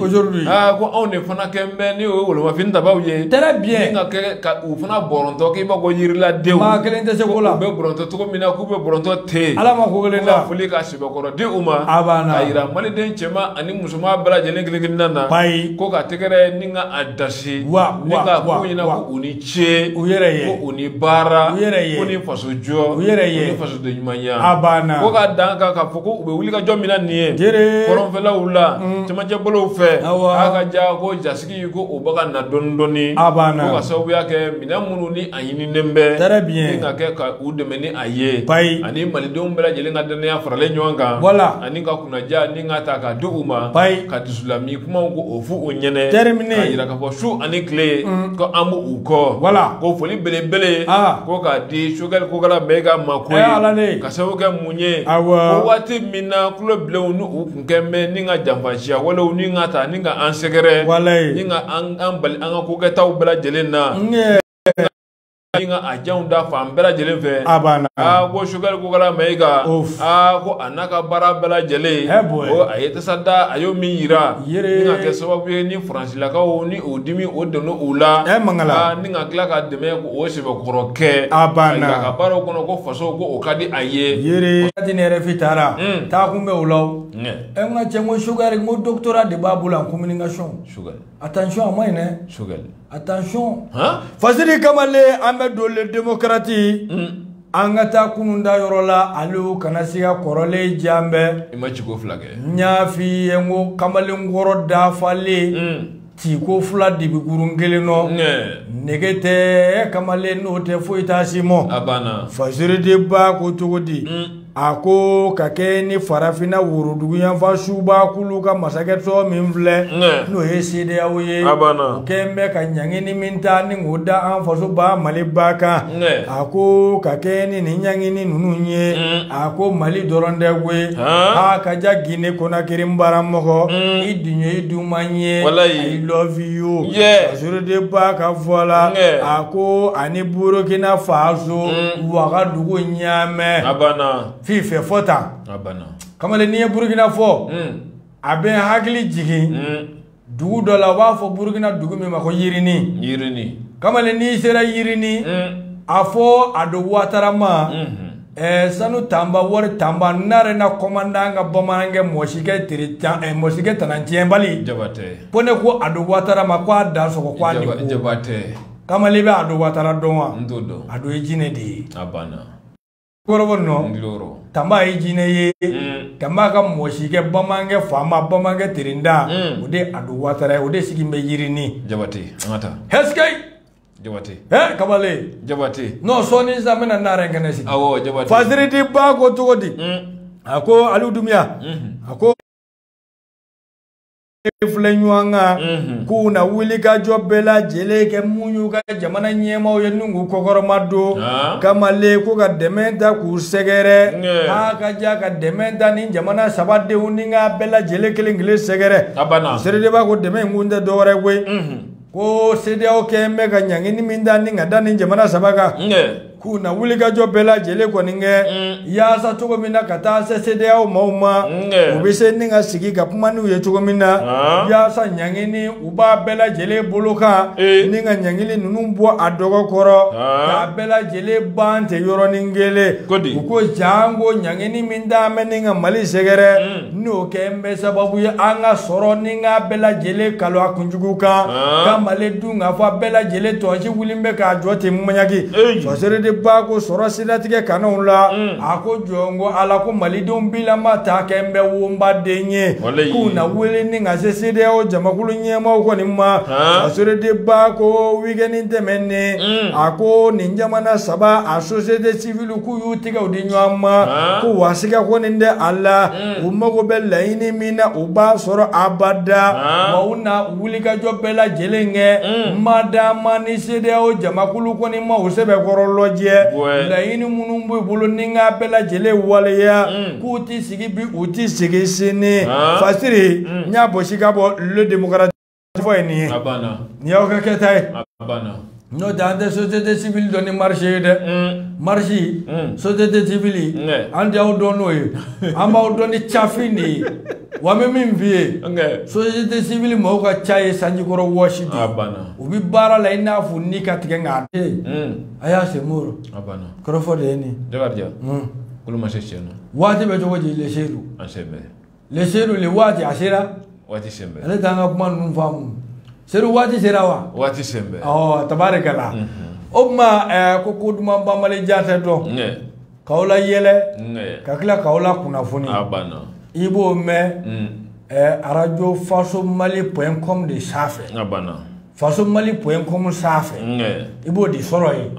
aa ko anw de fana kɛn bɛ ni o ye wolomafini tabaw ye très bien ni ka kɛ ka u fana bɔrɔntɔ k'i b'a ko yiriladenw maa kelen tɛ se ko la u bɛ bɔrɔntɔ cogo min na k'u bɛ bɔrɔntɔ ten ala ma ko kelen la foli ka sɛbɛkɔrɔ di u ma a banna a yira maliden cɛman ani musoman bɛɛ lajɛlen kelen-kelenna na bayi ko ka tɛgɛrɛ ni ka a dasi wa ni ka ko ɲɛna ko u ni ce u yɛrɛ ye ko u ni baara u yɛrɛ ye ko ni faso jɔ u yɛrɛ ye ni fasoden ɲumanya a banna ko ka da a kan k'a fɔ ko u bɛ wuli ka jɔ min na nin ye jere kɔrɔnfɛlaw la cɛmancɛbolow fɛ awa a ka ja ko jasi ko o bɛ ka na dɔɔni dɔɔni a banna ko ka sababuya kɛ minɛn minnu ni a ɲininen bɛ très bien ni ka kɛ ka u dɛmɛ ni a ye bayi ani malidenw bɛɛ lajɛlen ka dannaya faralen ɲɔgɔn kan voilà ani ka kunnaja ni ka ta ka di u ma bayi ka dusulami kumaw ko o fɔ u ɲɛnɛ terminé ka yira k'a fɔ su ani tile mm. ko an b'u kɔ voilà ko foli belebele ah. ko k'a di sogɛli kokala mayiga ma koyi eh, ka sababu kɛ mun ye awɔ ko waati min na tulo bilenw ninnu bɛ ni ka janfanciya walew ni ka a ta ni ka an sɛgɛrɛ ni ka an bali an ka ko kɛtaw bɛɛ lajɛlen na ka a janw da fan bɛɛ lajɛlen fɛ a banna aa ko sogɛli kokala mayiga aa ko a n'a ka baara bɛɛ lajɛlen a ye tasa da a y'o min jira ka kɛ sababu ye ni faransi lakaw ni o dimi o don u la mangala ni ka tila k'a dɛmɛ k'o sɛbɛkɔrɔ kɛ a banna ka baaraw kɔnɔ ko faso ko o ka di a ye yɛrɛti ne yɛrɛfi taara taa kun bɛ o la e ka cɛ ko sogɛli ko doctorat de b'a bolo en communication attention a man ɲi dɛ attention fasiri kamalen an bɛ don démocratie an ka taa kunun da yɔrɔ la ale kana se ka kɔrɔlen jan bɛɛ i ma ciko fila kɛ n y'a f'i ye n ko kamalenkɔrɔ dafalen mm. tiko fila dibi kurun kelen nɔ nege tɛ kamalen n'o tɛ foyi t'a si mɔ a banna fasiri de b'a ko cogo di mm. a ko ka kɛɲɛ ni farafinna woroduguyanfa subaa kulu ka masakɛso min filɛ n'o ye sedeyawo ye o kɛn bɛ ka ɲangini min ta ni k'o da an faso ba mali ba kan a ko ka kɛɲɛ ni nin ɲangini ninnu ye a ko mali dɔrɔn tɛ koyi aa ka ja gine konakiri n baramɔgɔ i dun ye i duman ye i love you fasiri de b'a ka fɔ la a ko ani burukina faso wagadugu ɲaamɛ f'i fɛ fɔ tan kamalen n'i ye burukina fɔ a bɛ n hakili jigin dugu dɔ la u b'a fɔ burukina dugu min ma ko yirinin yirinin kamalen n'i sera yirinin a fɔ ado watara ma eh, sanu tanba wari tanba narena kɔmandan ka bamanankɛ mɔsikɛ tiri tan eh, mɔsikɛ tanatiɲɛbali jabatɛ ko ne ko ado watara ma ko a dansɔgɔ ko a ni ko jabatɛ kamalen bɛ ado watara dɔn wa n t'o dɔn ado ye jinɛ de ye a banna kɔrɔbɔ nɔ tanba ye jinɛ ye mm. tanba ka mɔsikɛ bamanankɛ faama bamanankɛ terenda mm. o de ado watara ye o de sigi bɛ yirini jabate an ka taa hɛsikɛyi jabate ɛ kabale jabate n'o sɔɔni sisan bɛna naare kɛnɛ sigi awɔ jabate fasiri de b'a ko cogo di mm. a ko aliw dumiya mm-hmm. a ko filɛ ɲɔgɔn kan mhm. k'u na wulikajɔ bɛɛ lajɛlen kɛ mun y'u ka jamana ɲɛmaaw ye n'u k'u kɔkɔrɔmadon ah. kamalen ko ka dɛmɛ ta k'u sɛgɛrɛ a ka ja ka dɛmɛ ta ni jamana saba denw ni ka bɛɛ lajɛlen kelen kelen sɛgɛrɛ seere de b'a ko dɛmɛ in kun tɛ dɔwɛrɛ koyi mhm. ko CEDEAO kɛ n bɛ ka ɲangini min ta ni ka da nin jamana saba kan k'u na wulikajɔ bɛɛ lajɛlen kɔni kɛ mm. yaasa cogo min na ka taa se CEDEAO maaw ma u bɛ se ni ka sigi ka kuma n'u ye cogo min na ah. yaasa ɲangini u b'a bɛɛ lajɛlen bolo kan eh. ni ka ɲangili ninnu bɔ a dɔgɔ kɔrɔ ah. k'a bɛɛ lajɛlen ban ten yɔrɔnin kelen u ko janko ɲangini min da n bɛ ni ka Mali sɛgɛrɛ mm. n'o kɛ n bɛ sababu ye an ka sɔrɔ ni ka bɛɛ lajɛlen kalo a kunjugu kan ka mali dun k'a fɔ a bɛɛ lajɛlen tɔnsi wuli bɛ k'a jɔ ten mɔɲaki sɔsere de b'a ko sɔrɔ siratigɛ kanw la a ko jɔn ko ala ko malidenw bilama ta kɛ n bɛ wonbaden ye k'u na wele ni ka se CEDEAO jamakulu ɲɛmaaw kɔni ma sɔsere de b'a ko weekend tɛmɛnen a ko nin jamana saba a société civile k'u y'u tigɛw di ɲɔgɔn ma ko wa siga kɔni tɛ a la u mago bɛ laɲini min na u b'a sɔrɔ abada wa u na wulikajɔ bɛɛ lajɛlen kɛ madama ni CEDEAO jamakulu kɔni ma u sɛbɛkɔrɔ lajɛ laɲini minnu b'u bolo ni n ka bɛɛ lajɛlen waleya k'u ti sigi bi u ti sigi sini fasiri n y'a bɔsi ka bɔ le démocrate fɔ ye nin ye a banna nin y'aw ka kɛta ye a banna n'o tɛ an tɛ société civile dɔn ni marche ye dɛ marche société civile an tɛ aw dɔn n'o ye an b'aw dɔn ni cafin de ye wa n bɛ min f'i ye société civile mɔgɔw ka ca ye sanjikɔrɔwɔsi de ye u bɛ baara la i n'a fɔ ni ka tigɛ nka a tɛ yen a y'a se mori kɔrɔfɔ de ye nin ye kolo ma se tiɲɛ na waati bɛ cogo di le seyidu an se bɛ le seyidu le waati a sera waati sen bɛ ale t'an ka kuma ninnu faamu seyidu waati sera wa waati sen bɛ ɔ tabarikala o tuma ɛɛ ko ko duman banbali jaati don k'aw layɛlɛ ka tila k'aw lakunnafoni a banna i b'o mɛn ɛɛ arajo faso mali pɔn kɔm de sanfɛ a banna faso mali pɔn kɔmu sanfɛ i b'o de sɔrɔ yen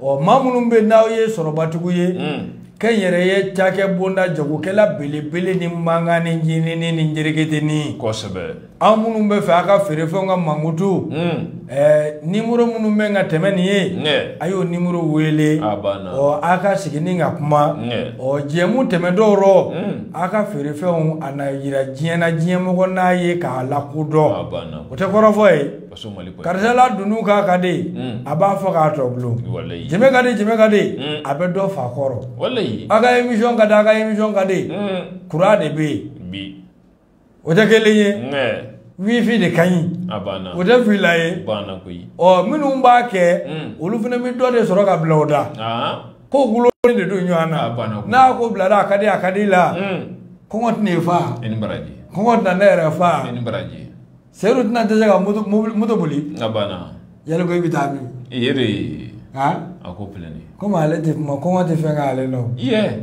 ɔ maa minnu bɛ n'aw ye sɔrɔbatigiw ye mm. kɛnyɛrɛye cakɛ bonda jagokɛla belebele ni mankan ni ncininin ni njereketenin kosɛbɛ aw minnu b'a fɛ a ka feerefɛnw ka mankutu mm. ɛɛ nimoro minnu bɛ ka tɛmɛ nin ye a y'o nimoro wele ɔ a ka sigi ni ka kuma ɔ jɛmu tɛmɛtɔw rɔ mm. a ka feerefɛnw a na yira diɲɛ na diɲɛ mɔgɔ n'a ye k'a lakodɔn o tɛ kɔrɔfɔ ye karisa la dunun kan ka di hmm. a b'a fɔ k'a tɔ bulon jɛmɛ ka di jɛmɛ ka di hmm. a bɛ dɔ fa kɔrɔ a ka emisiyɔn ka di a ka emisiyɔn ka di hmm. kuran de bɛ yen o tɛ kelen ye wifi de ka ɲi o tɛ fila ye ɔ minnu b'a kɛ olu fana bɛ dɔ de sɔrɔ ka bila o da ah. ko dulonnen de don ɲɔgɔn na n'a ko bilara a ka di a ka di la kɔngɔ tɛna e fa kɔngɔ tɛna ne yɛrɛ fa seyidu tɛna tɛ se ka moto boli yali ko i bɛ taa min a ko komi ale tɛ kuma kɔngɔ tɛ fɛn k'ale la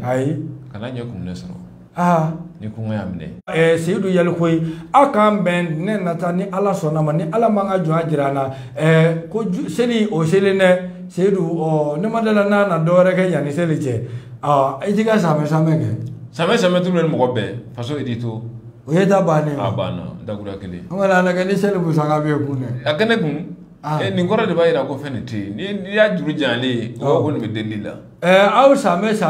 ayi kana ɲɛ kun ne sɔrɔ aa ni kɔngɔ y'a minɛ ɛɛ seyidu yali ko ye aw k'an bɛn ne nata ni ala sɔnna ma ni ala m'an ka jɔnya jira an na ɛɛ ko seli o selen dɛ seyidu ɔ ne ma da a la n'a na dɔwɛrɛ kɛ yanni seli cɛ ɔ i t'i ka samɛ samɛ kɛ samɛ samɛ tulu ni mɔgɔ bɛɛ faso idi to o ye da bannen ye a banna dakura kelen an kɔni a lajɛ ni seli musaka bɛ kun dɛ a kɛnɛ kun Ah. Eh, nin kɔrɔ de b'a jira ko fɛn nin tɛ yen n'i y'a juru janyalen ye o b'a ko nin bɛ delili la eh, aw sanbɛ san